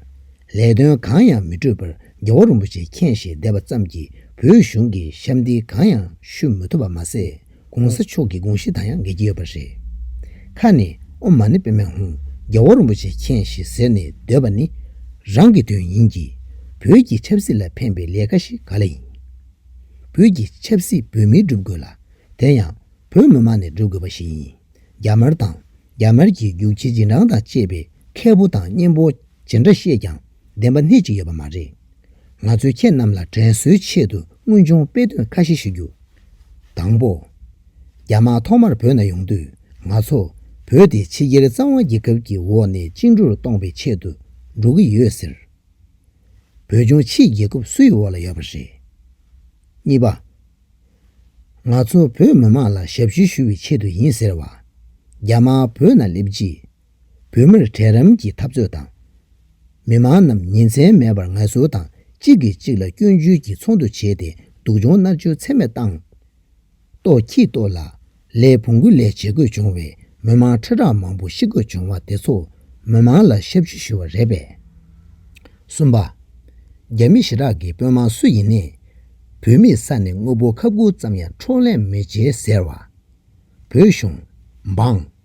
ལས་དོན་གང་ཡང་མི་འཕྲོད་པར་རྒྱལ་བ་རིན་པོ་ཆེ་མཁྱེན་བཞེས་བསྡད་པ་ཙམ་གྱིས་བོད་གཞུང་གི་ཞབས་འདེགས་གང་ཡང་ཞུ་མི་ཐུབ་པ་མ་ཟད་གོང་ས་མཆོག་གི་དགོངས་གཞི་དང་ཡང་འགལ་གྱི་ཡོད་པ་རེད། ཁ་ནས་ཨོ་མ་ནི་པེ་མེན་ཧུང་རྒྱལ་བ་རིན་པོ་ཆེ་མཁྱེན་བཞེས་ཟེར་ནས་སྡོད་པ་ནི་རང་གི་དོན་ཡིན་གྱི། བོད་ཀྱི་ཆབ་སྲིད་ལ་ཕན་པའི་ལས་ཀ་ཞིག་ག་ལ་ཡིན། བོད་ཀྱི་ཆབ་སྲིད་བོད་མིས་སྒྲུབ་དགོས་ལ། དེ་ཡང་བོད་མི་མང་ནས་སྒྲུབ་དགོས་པ་ཞིག་ཡིན། རྒྱ་དམར་དང་རྒྱ་དམར་གྱི་རྒྱུག་ཁྱི་རྗེས་འབྲང་དང་བཅས་པའི་མཁས་པོ་དང་གཉེན་པོ་ཇི་འདྲ་བཤད་ཀྱང་བདེན་པ་སྣེ་གཅིག་ཡོད་པ་མ་རེད། ང་ཚོས་ཁྱེད་རྣམས་ལ་དྲན་གསོའི་ཆེད་དུ་དངོས་བྱུང་དཔེ་དོན་ཁ་ཤས་ཞུ་རྒྱུ། དང་པོ། རྒྱ་དམག་ཐོག་མར་བོད་ན་ཡོང་དུས་ང་ཚོ་བོད་དེ་ཕྱི་རྒྱལ་གཙང་བ་རྒྱལ་ཁབ་ཀྱི་འོག་ནས་བཅིངས་འགྲོལ་གཏོང་པའི་ཆེད་དུ་འགྲོ་གི་ཡོད་ཟེར། བོད་ལྗོངས་ཕྱིའི་རྒྱལ་ཁབ་སུའི་འོག་ལ་ཡོད་པ་རེད། གཉིས་པ། ང་ཚོ་བོད་མི་དམངས་ལ་ཞབས་ཞུ་ཞུ་བའི་ཆེད་དུ་ཡིན་ཟེར་བ། རྒྱ་དམར་བོད་ནང་སླེབས་རྗེས། བོད་མིར་གྲལ་རིམ་གྱི་འཐབ་རྩོད་དང། མི་དམངས་རྣམས་ཉིན་མཚན་མེད་པར་ངལ་གསོ་དང་གཅིག་གིས་གཅིག་ལ་སྐྱོན་བརྗོད་ཀྱིས་ཚོགས་འདུ་བྱས་ཏེ་སྡུག་སྦྱོང་མནར་གཅོད་ཚད་མེད་བཏང། ཏོག་ཁྱི་ཏོག་ལ་ལའི་བོང་གུ་ལས་བྱེད་དགོས་བྱུང་བའི་མི་མང་ཁྲི་ཕྲག་མང་པོ་ཤི་དགོས་བྱུང་བ་དེ་ཚོ་མི་མང་ལ་ཞབས་ཞུ་ཞུ་བ་རེད་པས། གསུམ་པ། རྒྱ་མི་ཞི་དྲག་གི་དཔོན་དམག་སུ་ཡིན་ནས་བོད་མིའི་ས་ནས་དངོས་པོ་ཁ་སྦུག་ཙམ་ཡང་འཕྲོག་ལེན་མི་བྱེད་ཟེར་བ། བོད་གཞུང། འབངས།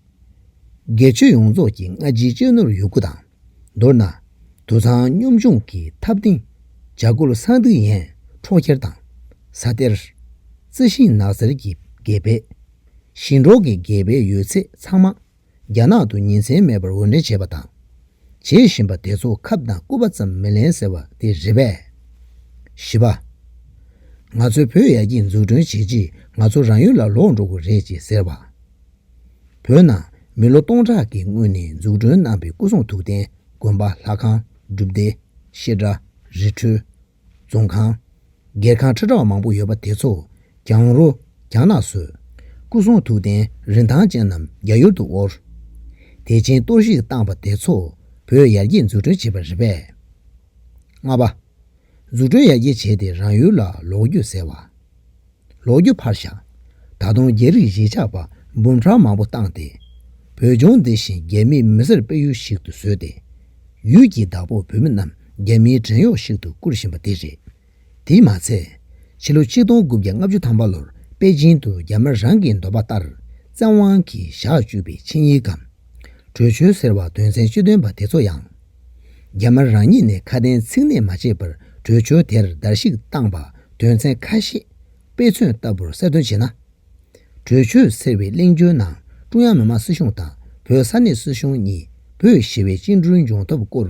དགེ་ཆོས་ཡོངས་རྫོགས་ཀྱི་སྔ་ཕྱིའི་གཅོད་ནོར་ཡོད་དགུ་དང། མདོར་ན། དུད་ཚང་སྙོམས་ཆུང་གི་འཐབ་རྟེན། འཇའ་གུར་གསང་ཐིག་ཡན་འཕྲོག་འཁྱེར་དང། ཟ་གཏེར། རྩི་ཤིང་ནགས་གསེར་གྱི་དགེ་སྤེལ། ཞིང་འབྲོག་གི་དགེ་སྤེལ་ཡོད་ཚད་ཚང་མ། རྒྱ་ནག་ཏུ་ཉིན་མཚན་མེད་པར་འོར་འདྲེན་བྱས་པ་དང། བྱེད་བཞིན་པ་དེ་ཚོ་ཁབ་དང་སྐུད་པ་ཙམ་མི་ལེན་ཟེར་བ་དེ་རེད་པས། བཞི་པ། ང་ཚོའི་བོད་ཡར་རྒྱས་འཛུགས་སྐྲུན་བྱེད་རྗེས་ང་ཚོ་རང་ཡུལ་ལ་ལོག་འགྲོ་དགོས་རེད་ཅེས་ཟེར་བ། བོད་ནང་མི་ལོ་སྟོང་ཕྲག་གི་སྔོན་ནས་འཛུགས་སྐྲུན་གནང་པའི་སྐུ་གསུང་ཐུགས་རྟེན་དགོན་པ་ལྷ་ཁང་སྒྲུབ་སྡེ། ཤེལ་བྲག། རི་ཁྲོད། རྫོང་ཁང། སྒེར་ཁང་ཁྲི་ཕྲག་མང་པོ་ཡོད་པ་དེ་ཚོ་གྱང་རོ་གྱང་ནག་བཟོས། སྐུ་གསུང་ཐུགས་རྟེན་རིན་ཐང་ཅན་རྣམས་རྒྱ་ཡུལ་དུ་དབོར། དེ་ཕྱིན་གཏོར་བཤིག་བཏང་པ་དེ་ཚོ་བོད་ཡར་རྒྱས་འཛུགས་སྐྲུན་བྱས་པ་རེད་པས། ལྔ་པ། འཛུགས་སྐྲུན་ཡར་རྒྱས་བྱས་ཏེ་རང་ཡུལ་ལ་ལོག་རྒྱུ་ཟེར་བ། ལོ་རྒྱུས་ཕར་བཞག་ད་དུང་རྒྱ་རིགས་གཞིས་ཆགས་པ་འབུམ་ཕྲག་མང་པོ་བཏང་སྟེ། བོད་ལྗོངས་འདི་བཞིན་རྒྱ་མིའི་མི་སེར་སྤེལ་ཡུལ་ཞིག་ཏུ་བཟོས་ཏེ། ཡུལ་གྱི་བདག་པོ་བོད་མི་རྣམས་རྒྱ་མིའི་བྲན་གཡོག་ཞིག་ཏུ་བཀུར་བཞིན་པ་དེ་རེད། དེས་མ་ཚད། ཕྱི་ལོ་ཆིག་སྟོང་དགུ་བརྒྱ་ལྔ་བཅུ་ཐམ་པ་ལོར་པེ་ཅིན་དུ་རྒྱ་དམར་རང་གི་འདོད་པ་ལྟར་བཙན་དབང་གིས་བཞག་བཅུག་པའི་ཆིངས་ཡིག་གམ། གྲོས་ཆོད་ཟེར་བ་དོན་ཚན་བཅུ་བཏོན་པ་དེ་ཚོ་ཡང། རྒྱ་དམར་རང་ཉིད་ནས་ཁ་དན་ཚིག་གནས་མ་བྱས་པར་བྲོས་བྱོལ་དེར་བརྡལ་བཤིག་བཏང་པ་དོན་ཚན་ཁ་ཤས་དཔེ་མཚོན་ལྟ་བུར་གསལ་སྟོན་བྱས་ན། བྲོས་བྱོལ་ཟེར་བའི་གླེང་བརྗོད་ནང་ཀྲུང་དབྱང་མི་དམངས་སྲིད་གཞུང་དང་བོད་ས་གནས་སྲིད་གཞུང་གཉིས་པོས་ཞི་བའི་བཅིངས་འགྲོལ་འབྱུང་ཐབས་སྐོར་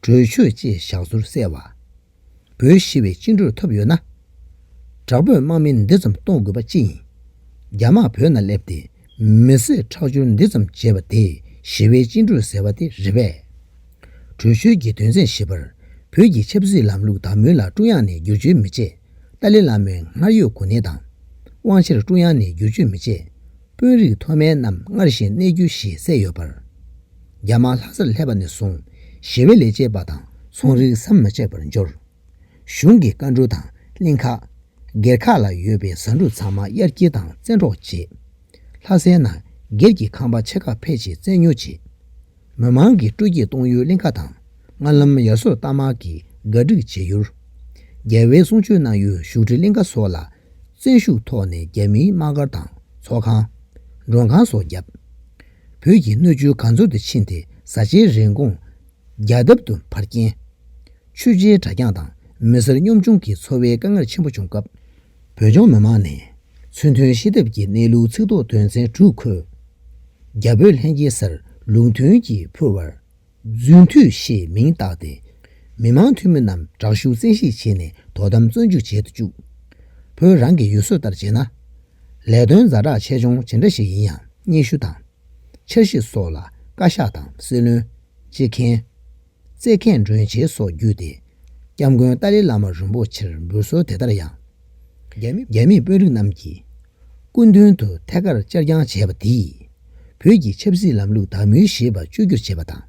བྲོས་བྱོལ་ཅེས་བཞག་ཚུལ་གསལ་བ། བོད་ཞི་བའི་སྤྱི་འགྲོས་ཐོབ་ཡོད་ན། དྲག་པོས་དམག་མི་འདི་ཙམ་གཏོང་དགོས་པ་ཅི་ཡིན། རྒྱ་དམག་བོད་ན་སླེབས་ཏེ་མི་སེར་ཁྲག་སྦྱོར་འདི་ཙམ་བྱས་པ་དེ་ཞི་བའི་སྤྱི་འགྲོས་ཟེར་བ་དེ་རེད་པས། བྲོས་བྱོལ་གྱི་དོན་ཚན་བཞི་པར་བོད་ཀྱི་ཆབ་སྲིད་ལམ་ལུགས་དང་མུན་ལ་ཀྲུང་དབྱང་ནས་བསྒྱུར་བཅོས་མི་བྱེད། ཏཱ་ལི་བླ་མའི་སྔར་ཡོད་གོ་གནས་དང་དབང་ཆར་ཀྲུང་དབྱང་ནས་བསྒྱུར་བཅོས་མི་བྱེད། དཔོན་རིགས་མཐོ་དམན་རྣམས་སྔར་བཞིན་གནས་རྒྱུ་ཞེས་གསལ་ཡོད་པར། རྒྱ་དམག་ལྷ་སར་སླེབས་པ་ནས་བཟུང་ཞི་བའི་ལས་བྱེད་པ་དང་ཚོང་རིགས་ཟམ་མ་ཆད་པར་འབྱོར། གཞུང་གི་བཀའ་འབྲུ་དང་གླིང་ཁ། སྒེར་ཁག་ལ་ཡོད་པའི་བཟའ་འབྲུ་ཚང་མ་དབྱར་སྐྱིལ་དང་བཙན་འཕྲོག་བྱས། ལྷ་སའི་ནང་སྒེར་གྱི་ཁང་པ་ཆེ་ཁག་ཕལ་ཆེར་བཙན་ཉོ་བྱས། མི་མང་གིས་སྤྲོ་སྐྱིད་གཏོང་ཡུལ་གླིང་ཁ་དང་ལྔ་ལམ་ཡར་སོར་རྟ་དམག་གིས་འགའ་སྒྲིག་བྱེད་ཡུལ། རྒྱལ་བའི་གསུང་ཆོས་གནང་ཡུལ་བཞུགས་ཁྲི་གླིང་ཁ་སོགས་ལ་བཙན་ཤུགས་ཐོག་ནས་རྒྱ་མིའི་དམག་སྒར་དང་ཚོགས་ཁང། མགྲོན་ཁང་སོགས་བརྒྱབ། བོད་ཀྱི་སྣོད་བཅུད་གང་འཚོལ་དུ་ཕྱིན་ཏེ་བཟའ་བཅའི་རིན་གོང་རྒྱ་ཐབ་ཏུ་འཕར་རྐྱེན། ཆོས་རྗེའི་གྲྭ་རྐྱང་དང་མི་སེར་གཉོམ་ཆུང་གི་འཚོ་བའི་དཀའ་ངལ་ཆེན་པོ་བྱུང་སྐབས། བོད་ལྗོངས་མི་དམངས་ནས་ཚུལ་མཐུན་ཤེས་སྟབས་ཀྱིས་གནས་ལུགས་ཚིག་རྡོག་དོན་ཚན་དྲུག་འཁོད། རྒྱ་བོད་ལྷན་རྒྱས་སར་ལུགས་མཐུན་གྱིས་ཕུལ་བར། རྫུན་མཐུད་ཞེས་མིང་བཏགས་ཏེ། མི་དམངས་འཐུས་མི་རྣམས་དྲག་ཤུགས་བཙན་ཤེད་བྱས་ནས་དོ་དམ་བཙོན་འཇུག་བྱེད་དུ་བཅུག། བོད་རང་གི་ཡུལ་སྲོལ་ལྟར་བྱས་ན། ལས་དོན་རྫ་དྲག་ཆེ་ཆུང་ཇི་འདྲ་ཞིག་ཡིན་ཡང་སྙན་ཞུ་དང། འཆར་གཞི་སོགས་ལ་བཀའ་ཤག་དང་སྲིད་བློན། སྤྱི་ཁྱེན། རྩེ་མཁས་མགྲོན་བྱེད་སོགས་བརྒྱུད་དེ། སྐྱབས་མགོན་ཏཱ་ལའི་བླ་མ་རིན་པོ་ཆེར་འབུལ་གསོལ་དེ་ལྟར་ཡང། རྒྱ་མི་དཔོན་རིགས་རྣམས་ཀྱིས། སྐུ་མདུན་དུ་ཐད་ཀར་བཅར་བསྐྱངས་བྱས་པ་དེས། བོད་ཀྱི་ཆབ་སྲིད་ལམ་ལུགས་དག་མུས་ཞེས་པ་བཅོས་བསྒྱུར་བྱས་པ་དང།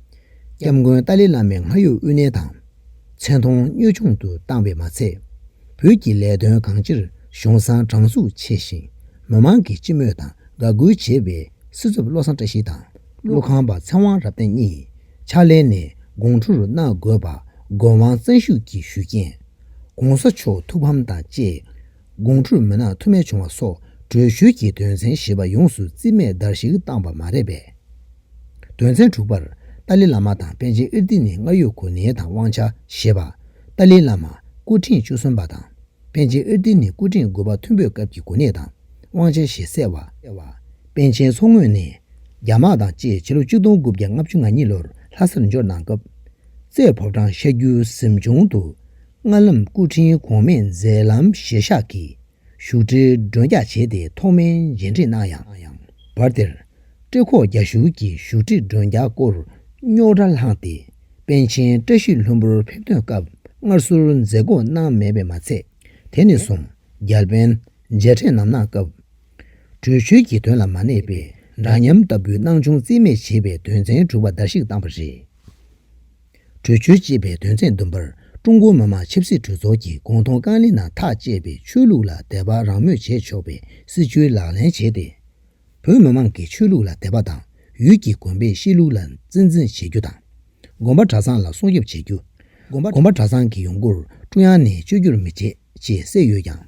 སྐྱབས་མགོན་ཏཱ་ལའི་བླ་མའི་སྔར་ཡོད་དབུས་གནས་དང། མཚན་མཐོང་གཉོས་ཆུང་དུ་བཏང་བས་མ་ཚད། བོད་ཀྱི་ལས་དོན་གང་ཅིར་གཞུང་བཟང་དྲང་ཚུགས་ཆེ་ཞིང། མི་མང་གིས་སྤྱི་མོས་དང་དགའ་གུས་བྱེད་པའི་སྲིད་ཚབ་བློ་བཟང་བཀྲ་ཤིས་དང་ཀླུ་ཁང་པ་ཚེ་དབང་རབ་བརྟན་གཉིས། ཕྱག་ལེན་ནས་དགོང་དྲོ་རུ་གནང་དགོས་པ་དགོས་དབང་གཙང་བཞུགས་ཀྱིས་ཞུ་རྐྱེན། གོང་ས་མཆོག་ཐུགས་ཕམ་དང་བཅས་དགོང་དྲོ་རུ་མི་གནང་ཐུ་མེད་བྱུང་བ་སོགས་གྲོས་ཞུས་ཀྱི་དོན་ཚན་བཞི་པ་ཡོངས་སུ་རྩིས་མེད་བརྡར་ཞིག་བཏང་བ་མ་རེད་པས། དོན་ཚན་དྲུག་པར་ཏཱ་ལི་བླ་མ་དང་པཎ་ཆེན་ཨིར་ཏི་ནི་སྔར་ཡོད་གོ་གནས་དང་དབང་ཆ་ཞེས་པ། ཏཱ་ལི་བླ་མ་སྐུ་ཕྲེང་བཅུ་གསུམ་པ་དང་པཎ་ཆེན་ཨིར་ཏི་ནི་སྐུ་ཕྲེང་དགུ་པ་མཐོན་པོའི་སྐབས་ཀྱི་གོ་གནས་དང་དབང་ཆ་ཞེས་གསལ་བ། པཎ་ཆེན་མཚོ་སྔོན་ནས་རྒྱ་དམག་དང་བཅས་ཕྱི་ལོ་གཅིག་སྟོང་དགུ་བརྒྱ་ལྔ་བཅུ་ང་གཉིས་ལོར་ལྷ་སར་འབྱོར་གནང་སྐབས། རྩེ་ཕོ་བྲང་ཤར་རྒྱུད་གཟིམ་ཆུང་དུ་སྔ་ལམ་སྐུ་ཕྲེང་གོང་མས་མཛད་ལམ་བཞེས་ཤག་གིས་བཞུགས་ཁྲིར་མགྲོན་རྒྱག་བྱས་ཏེ་ཐོག་མའི་མཇལ་འཕྲད་གནང་ཡང། བར་དེར། བཀྲེས་ཁོག་རྒྱ་ཞུགས་ཀྱིས་བཞུགས་ཁྲིར་མགྲོན་རྒྱག་སྐོར་རྙོག་དྲ་བསླངས་ཏེ་པཎ་ཆེན་བཀྲ་ཤིས་ལྷུན་པོར་ཕེབས་ཐོན་སྐབས་སྔར་སྲོལ་མཛད་སྒོ་གནང་མེད་པས་མ་ཚད། དེ་ནས་བཟུང་རྒྱ་དཔོན་མཇལ་འཕྲད་ནམ་གནང་སྐབས་གྲོས་ཆོད་ཀྱི་དོན་ལ་མ་གནས་པས་འདྲ་མཉམ་ལྟ་བུའི་སྣང་ཆུང་རྩིས་མེད་བྱེད་པའི་དོན་ཚན་དྲུག་པ་བརྡལ་བཤིག་བཏང་བ་རེད། གྲོས་ཆོད་ཅེས་པའི་དོན་ཚན་བདུན་པར་ཀྲུང་གོ་མི་དམངས་ཆབ་སྲིད་གྲོས་ཚོགས་ཀྱི་དགོངས་དོན་རྐང་གླིང་ནང་ཐག་བཅད་པའི་ཆོས་ལུགས་ལ་དད་པ་རང་མོས་བྱས་ཆོག་པའི་སྲིད་བྱུས་ལག་ལེན་བྱས་ཏེ། བོད་མི་དམངས་ཀྱི་ཆོས་ལུགས་ལ་དད་པ་དང་ཡུལ་གྱི་དགོན་པའི་གཤིས་ལུགས་ལ་གཙིགས་འཛིན་བྱེད་རྒྱུ་དང། དགོན་པ་གྲྭ་ཚང་ལ་སྲུང་སྐྱོབ་བྱེད་རྒྱུ། དགོན་པ་གྲྭ་ཚང་གི་ཡོང་སྒོར་ཀྲུང་དབྱང་ནས་བཅོས་སྒྱུར་མི་བྱེད་ཅེས་གསལ་ཡོད་ཀྱང།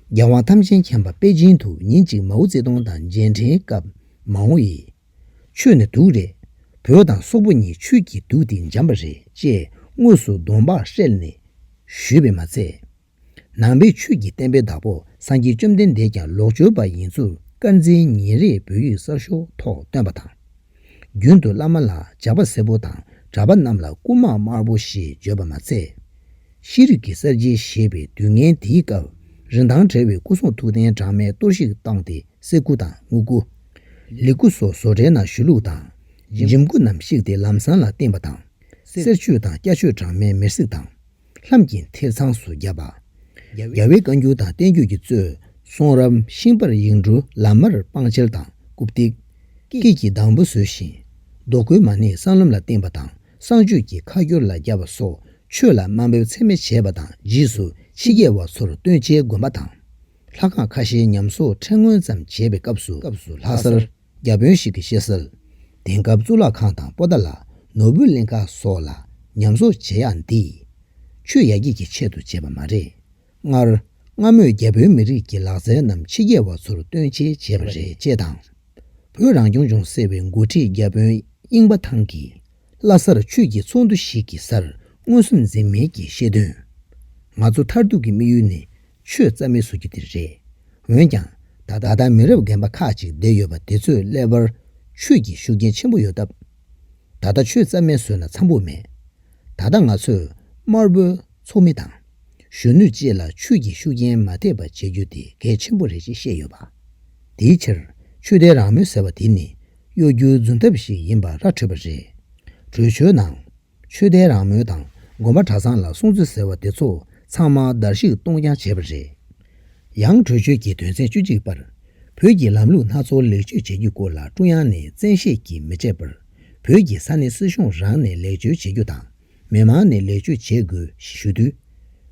རྒྱལ་དབང་དམ་ཅན་མཁྱེན་པ་པེ་ཅིན་དུ་ཉིན་གཅིག་མའོ་ཙེ་ཏུང་དང་མཇལ་འཕྲད་སྐབས་མའོ་ཡིས། ཆོས་ནི་དུག་རེད། བུ་དང་སོག་པོ་གཉིས་ཆོས་ཀྱི་དུག་དེ་འཇམ་པ་རེད་ཅེས་དངོས་སུ་གདོང་འབག་ཧྲལ་ནས་ཞུས་པས་མ་ཚད། ནང་པའི་ཆོས་ཀྱི་བསྟན་པའི་བདག་པོ་སངས་རྒྱས་བཅོམ་ལྡན་འདས་ཀྱང་ལོག་སྤྱོད་པ་ཡིན་ཚུལ་དཀར་འཛིན་ཉིན་རེའི་བོད་ཡིག་གསར་ཤོག་ཐོག་བཏོན་པ་དང། རྒྱུན་དུ་བླ་མ་ལ་ཇག་པ་སེར་པོ་དང་གྲྭ་པ་རྣམས་ལ་རྐུན་མ་དམར་པོ་ཞེས་བརྗོད་པ་མ་ཚད། ཤེས་རིག་གི་གསར་བརྗེ་ཞེས་པའི་དུས་ངན་དེའི་སྐབས་རིན་ཐང་བྲལ་བའི་སྐུ་གསུང་ཐུགས་རྟེན་གྲངས་མེད་གཏོར་བཤིག་བཏང་སྟེ་གསེར་སྐུ་དང་དངུལ་སྐུ། ལི་སྐུ་སོགས་བཟོ་གྲྭའི་ནང་བཞུགས་ལུགས་དང། འཇིམ་སྐུ་རྣམས་བཤིག་སྟེ་ལམ་བཟང་ལ་བསྟིམས་པ་དང། གསེར་ཆོས་དང་སྐྱ་ཆོས་གྲངས་མེད་མེར་བསྲེགས་དང། ལྷམ་གྱི་མཐིལ་ཚངས་སུ་བརྒྱབ་པ། རྒྱལ་བའི་བཀའ་འགྱུར་དང་བསྟན་བཅོས་ཀྱི་གཙོས་གསུང་རབ་ཤིང་པར་ཡིག་འབྲུ་ལ་མར་སྤང་ཆལ་དང་རྐུབ་སྟེགས། སྐེད་ཀྱི་གདང་བུ་བཟོས་ཤིང། རྡོ་བརྐོས་མ་ནི་སྲང་ལམ་ལ་བསྟིམས་པ་དང་བསང་མཆོད་ཀྱི་ཁ་སྐྱོར་ལ་རྒྱབ་པ་སོགས་ཆོས་ལ་དམའ་འབེབས་ཚད་མེད་བྱས་པ་དང་རྗེས་སུ་ཕྱི་རྒྱལ་བ་ཚོར་སྟོན་ཆའི་དགོན་པ་དང། ལྷ་ཁང་ཁ་ཤས་ཉམས་གསོག་ཁྲལ་སྔོན་ཙམ་བྱས་པའི་སྐབས་སུ་ལྷ་སར་རྒྱ་དཔོན་ཞིག་གིས་བཤད་གསལ། དེང་སྐབས་གཙུག་ལག་ཁང་དང་པོ་ཏཱ་ལ་ནོར་བུ་གླིང་ཁ་སོགས་ལ་ཉམས་གསོག་བྱེད་ཡག་འདི། ཆོས་ཡར་རྒྱས་ཀྱི་ཆེད་དུ་བྱས་པ་མ་རེད། སྔར་སྔ་མོས་རྒྱ་བོད་མི་རིགས་ཀྱི་ལག་རྩལ་རྣམས་ཕྱི་རྒྱལ་བ་ཚོར་སྟོན་ཆེད་བྱས་པ་རེད་ཅེས་དང། བོད་རང་སྐྱོང་ལྗོངས་ཟེར་བའི་འགོ་ཁྲིད་རྒྱ་དཔོན་དབྱིང་པ་ཐང་གིས་ལྷ་སར་ཆོས་ཀྱི་ཚོགས་འདུ་ཞིག་གི་སར་མངོན་སུམ་འཛེམ་མེད་ཀྱིས་བཤད་དོན། ང་ཚོ་མཐར་ཐུག་གི་དམིགས་ཡུལ་ནི་ཆོས་རྩ་མེད་བཟོ་རྒྱུ་དེ་རེད། འོན་ཀྱང་ད་ལྟ་མི་རབས་རྒན་པ་ཁག་ཅིག་བསྡད་ཡོད་པ་དེ་ཚོས་ཀླད་པར་ཆོས་ཀྱི་ཤུགས་རྐྱེན་ཆེན་པོ་ཡོད་སྟབས། ད་ལྟ་ཆོས་རྩ་མེད་བཟོས་ན་འཚམས་པོ་མེད། ད་ལྟ་ང་ཚོས་དམར་པོའི་ཚོགས་མི་དང། གཞོན་ནུ་བཅས་ལ་ཆོས་ཀྱི་ཤུགས་རྐྱེན་མ་ཐེབས་པ་བྱེད་རྒྱུ་དེ་གལ་ཆེན་པོ་རེད་ཅེས་བཤད་ཡོད་པ། དེའི་ཕྱིར་ཆོས་དད་རང་མོས་ཟེར་བ་དེ་ནི་གཡོ་སྒྱུའི་རྫུན་ཐབས་ཤིག་ཡིན་པ་ར་འཕྲོད་པ་རེད། བྲོས་བྱོལ་ནང་ཆོས་དད་རང་མོས་དང་དགོན་པ་གྲྭ་ཚང་ལ་སྲུང་བརྩི་ཟེར་བ་དེ་ཚོ་ཚང་མ་བརྡལ་བཤིག་གཏོང་རྐྱང་བྱས་པ་རེད། ཡང་གྲོས་ཆོད་ཀྱི་དོན་ཚན་བཅུ་གཅིག་པར། བོད་ཀྱི་ལམ་ལུགས་སྣ་ཚོགས་ལེགས་བཅོས་བྱ་རྒྱུའི་སྐོར་ལ་ཀྲུང་དབྱང་ནས་བཙན་ཤེད་ཀྱིས་མི་བྱེད་པར། བོད་ཀྱི་ས་གནས་སྲིད་གཞུང་རང་ནས་ལེགས་བཅོས་བྱེད་རྒྱུ་དང་མི་མང་ནས་ལེགས་བཅོས་བྱེད་དགོས་ཞེས་ཞུ་དུས།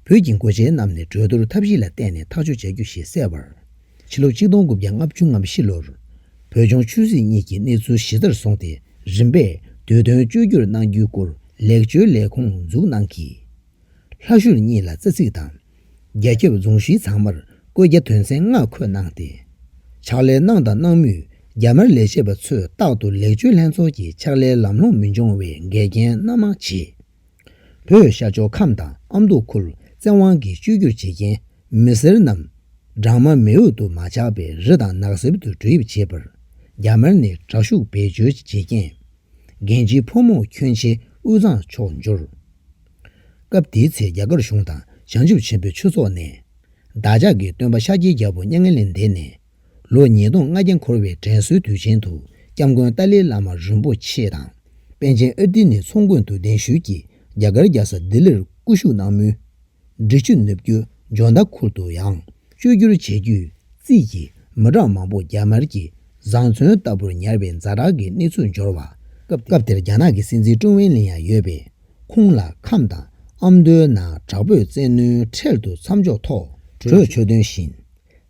བོད་ཀྱི་མགོ་བྱེད་རྣམས་ནས་གྲོས་བསྡུར་ཐབས་བཞི་ལ་བརྟེན་ནས་ཐག་གཅོད་བྱ་རྒྱུ་ཞེས་གསལ་བར། ཕྱི་ལོ་གཅིག་སྟོང་དགུ་བརྒྱ་ལྔ་བཅུ་ང་བཞི་ལོར། བོད་ལྗོངས་ཆོས་སྲིད་གཉིས་ཀྱི་གནས་ཚུལ་གཞི་རྩར་བཟུང་སྟེ་རིམ་པས་བསྡུས་དོན་བཅོས་བསྒྱུར་གནང་རྒྱུའི་སྐོར་ལེགས་བཅོས་ལས་ཁུངས་འཛུགས་གནང་གིས། ལྷ་ཤུལ་གཉིས་ལ་རྩ་ཚིག་དང། རྒྱ་ཁྱབ་རྫོང་བཞི་ཚང་མར་བཀོད་རྒྱ་དོན་ཚན་ལྔ་འཁོད་གནང་སྟེ། ཕྱག་ལས་གནང་དང་གནང་མུས་རྒྱ་དམར་ལས་བྱེད་པ་ཚོས་རྟག་ཏུ་ལེགས་བཅོས་ལྷན་ཚོགས་ཀྱི་ཕྱག་ལས་ལམ་ལྷོང་མི་འབྱུང་བའི་འགལ་རྐྱེན་སྣ་མང་བྱེད། བོད་ཤར་ཕྱོགས་ཁམས་དང་ཨ་མདོ་ཁུལ་བཙན་དབང་གིས་བཅོས་བསྒྱུར་བྱེད་མཁན་མི་སེར་རྣམས། སྦྲང་མ་མེ་འོད་དུ་མ་ཆགས་པའི་རི་དང་ནགས་གསེབ་ཏུ་འགྲོ་ཡིབ་བྱེད་པར། རྒྱ་དམར་ནས་དྲག་ཤུགས་བེད་སྤྱོད་བྱེད་རྐྱེན། རྒན་བྱིས་ཕོ་མོ་ཁྱོན་ཆེ་དབུས་གཙང་ཕྱོགས་འབྱོར། སྐབས་དེའི་ཚེ་རྒྱ་གར་གཞུང་དང་བྱང་ཆུབ་ཆེན་པོའི་ཆོས་ཚོགས་ནས། བདག་ཅག་གི་སྟོན་པ་ཤཱཀྱའི་རྒྱལ་པོ་མྱ་ངན་ལས་འདས་ནས། ལོ་ཉིས་སྟོང་ལྔ་བརྒྱ་འཁོར་བའི་དྲན་གསོའི་དུས་ཆེན་དུ་སྐྱབས་མགོན་ཏཱ་ལའི་བླ་མ་རིན་པོ་ཆེ་དང། པཎ་ཆེན་ཨུ་ཏི་ནི་མཚོ་མགོན་དུ་གདན་ཞུས་ཀྱིས་རྒྱ་གར་རྒྱལ་ས་ལྡི་ལིར་སྐུ་བཞུགས་གནང་མུས། འབྲི་ཆུ་ནུབ་རྒྱུད་ལྗོངས་མདའ་ཁུལ་དུ་ཡང་བཅོས་སྒྱུར་བྱེད་རྒྱུའི་རྩིས་ཀྱིས་མི་གྲངས་མང་པོ་རྒྱ་དམར་གྱིས་བཟང་བཙོན་ལྟ་བུར་ཉར་བའི་མཛའ་གྲགས་ཀྱི་གནས་ཚུལ་འབྱོར་བ། སྐབས་དེར་རྒྱ་ནག་གི་སྲིད་འཛིན་ཀྲུང་ཝེ་ལིན་ཡང་ཡོད་པས་ཁོང་ལ་ཁམས་དང་ཨ་མདོའི་ནང་དྲག་པོས་བཙན་གནོན་འཕྲལ་དུ་མཚམས་འཇོག་ཐོག་གྲོས་ཆོད་འདོན་བཞིན།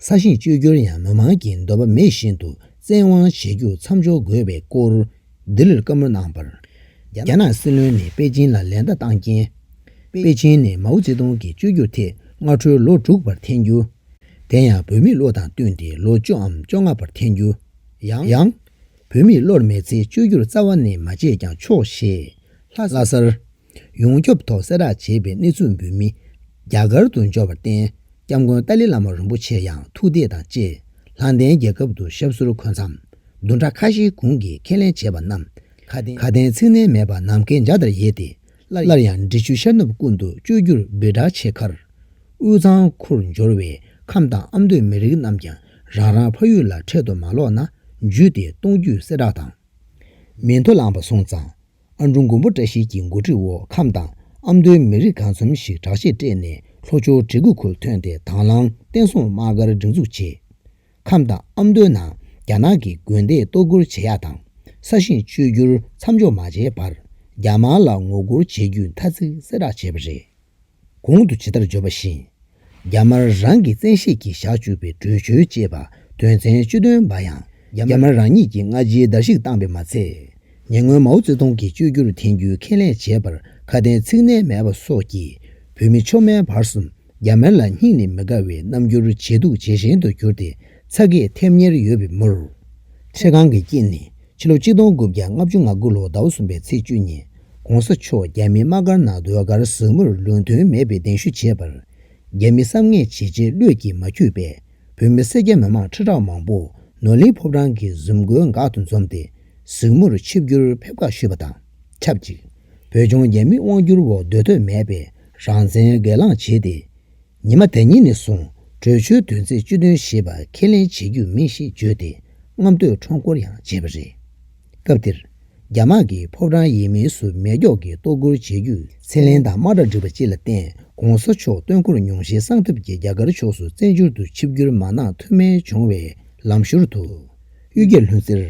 ས་ཞིང་བཅོས་སྒྱུར་ཡང་མི་མང་གིས་འདོད་པ་མེད་བཞིན་དུ་བཙན་དབང་བྱེད་རྒྱུ་མཚམས་འཇོག་དགོས་པའི་སྐོར་ལྡི་ལིར་བཀའ་མོལ་གནང་བར། རྒྱ་ནག་སྲིད་བློན་ནས་པེ་ཅིན་ལ་ལན་བརྡ་བཏང་རྐྱེན། པེ་ཅིན་ནས་མའོ་ཙེ་ཏུང་གི་བཅོས་སྒྱུར་ཐད་སྔ་དྲོའི་ལོ་དྲུག་པར་འཐེན་རྒྱུ། དེ་ཡང་བོད་མིའི་བློ་དང་བསྟུན་ཏེ་ལོ་བཅུ་འམ་བཅོ་ལྔ་པར་འཐེན་རྒྱུ། ཡང། བོད་མིའི་བློར་མེད་ཚེ་བཅོས་སྒྱུར་རྩ་བ་ནས་མ་བྱས་ཀྱང་ཆོག་ཞེས། ལྷ་སར། ཡོངས་ཁྱབ་ཐོག་གསལ་བསྒྲགས་བྱས་པའི་གནས་ཚུལ་འབུལ་མི་རྒྱ་གར་དུ་འབྱོར་བར་བརྟེན་སྐྱབས་མགོན་ཏཱ་ལི་བླ་མ་རིན་པོ་ཆེ་ཡང་ཐུགས་དད་དང་བཅས་ལྷང་ལྡན་རྒྱལ་ཁབ་ཏུ་ཞབས་སོར་འཁོད་མཚམས་བདུན་ཕྲག་ཁ་ཤས་གུང་གིས་ཁས་ལེན་བྱས་པ་རྣམས་ཁ་དན་ཚིག་གནས་མེད་པར་ནམ་མཁའི་འཇའ་ལྟར་ཡལ་ཏེ་སླར་ཡང་འབྲི་ཆུའི་ཤར་ནུབ་ཀུན་ཏུ་བཅོས་བསྒྱུར་འབོད་སྒྲ་ཆེ་ཁར། དབུས་གཙང་ཁུར་འབྱོར་བའི་ཁམས་དང་ཨ་མདོའི་མི་རིགས་རྣམས་ཀྱང་རང་རང་ཕ་ཡུལ་ལ་འཕྲལ་དུ་མ་ལོག་ན་འཇུས་ཏེ་གཏོང་རྒྱུའི་གསལ་བསྒྲགས་དང། མི་མཐོ་ལངས་པ་སོང་ཙང་ཨ་འབྲུག་མགོན་པོ་བཀྲ་ཤིས་ཀྱི་འགོ་ཁྲིད་འོག་ཁམས་དང་ཨ་མདོའི་མི་རིགས་གང་འཚམ་ཞིག་དྲག་ཆས་སྤྲས་ནས་ལྷོ་ཕྱོགས་གྲི་གུ་ཁུལ་ཐོན་ཏེ་དྭང་བླངས་བསྟན་སྲུང་དམག་སྒར་སྒྲིག་འཛུགས་བྱས། ཁམས་དང་ཨ་མདོའི་ནང་རྒྱ་ནག་གི་དགོན་སྡེ་གཏོར་རྒོལ་བྱེད་ཡག་དང་ས་ཞིང་བཅོས་བསྒྱུར་མཚམས་འཇོག་མ་བྱས་པར་རྒྱ་དམག་ལ་ངོ་རྒོལ་བྱེད་རྒྱུའི་ཐ་ཚིག་གསལ་བསྒྲགས་བྱས་པ་རེད། གོང་དུ་ཇི་ལྟར་བརྗོད་པ་བཞིན། རྒྱ་དམར་རང་གི་བཙན་ཤེད་ཀྱིས་བཞག་བཅུག་པའི་བྲོས་བྱོལ་ཅེས་པ་དོན་ཚན་བཅུ་བདུན་པ་ཡང་རྒྱ་དམར་རང་ཉིད་ཀྱིས་སྔ་རྗེས་བརྡལ་བཤིག་བཏང་པས་མ་ཚད། ཉེ་སྔོན་མའོ་ཙེ་ཏུང་གིས་བཅོས་བསྒྱུར་འཐེན་རྒྱུའི་ཁས་ལེན་བྱས་པར་ཁ་དན་ཚིག་གནས་མེད་པ་སོགས་ཀྱིས་བོད་མི་མཆོག་དམན་བར་གསུམ་རྒྱ་དམར་ལ་སྙིང་ནས་མི་དགའ་བའི་རྣམ་འགྱུར་ཇེ་སྡུག་ཇེ་ཞན་དུ་གྱུར་ཏེ་ཚ་གས་ཐེབས་ཉེར་ཡོད་པའི་མུར། ཁྲེ་གང་གི་དཀྱིལ་ནས་ཕྱི་ལོ་གཅིག་སྟོང་དགུ་བརྒྱ་ལྔ་བཅུ་ང་དགུ་ལོ་ཟླ་བ་གསུམ་པའི་ཚེས་བཅུ་ཉིན ྋགོང་ས་མཆོག་རྒྱ་མིའི་དམག་སྒར་ནང་ཟློས་གར་ཟབ་མོར་ལུང་དོན་མེད་པའི་གདན་ཞུ་བྱས་པར། རྒྱ་མི་བསམ་ངན་བྱེད་བྱེད་ལུས་ཀྱིས་མ་འཁྱུད་པས་བོད་མི་སེར་སྐྱ་མི་མང་ཁྲི་ཕྲག་མང་པོ་ནོར་གླིང་ཕོབ་རང་གི་གཟིམ་དགོན་འགག་ཏུ་འཛོམས་ཏེ་གཟིགས་མོར་ཆིབས་བསྒྱུར་ཕེབས་ཁ་ཞུས་པ་དང་ཆབས་ཅིག་བོད་ལྗོངས་རྒྱ་མིའི་དབང་བསྒྱུར་འོག་སྡོད་འདོད་མེད་པའི་རང་བཙན་སྒེར་ལངས་བྱས་ཏེ། ཉི་མ་དེ་ཉིད་ནས་བཟུང་བྲོས་བྱོལ་དུས་ཚེས་བཅུ་བདུན་ཞེས་པ་ཁས་ལེན་བྱེད་རྒྱུ་མིན་ཞེས་བརྗོད་དེ་རྔམ་སྟོད་ཁྲོམ་སྐོར་ཡང་བྱས་པ་རེད། སྐབས་དེར། རྒྱ་དམག་གིས་ཕོ་བྲང་ཡིན་མིན་སུ་མེད་སྒྱོགས་ཀྱིས་ལྟོ་སྐོར་བྱེད་རྒྱུ་ཚེ་ལན་དང་དམག་དྲག་བསྒྲིགས་པ་བཅས་ལ་བརྟེན་གོང་ས་མཆོག་སྟོན་འཁོར་ཉུང་ཤས་གསང་ཐབས་ཀྱིས་རྒྱ་གར་ཕྱོགས་སུ་བཙན་བྱོལ་དུ་ཆིབས་བསྒྱུར་མ་གནང་ཐུ་མེད་བྱུང་བས་ལམ་ཞོར་དུ། གཡུལ་རྒྱལ་ལྷུན་རྩེར།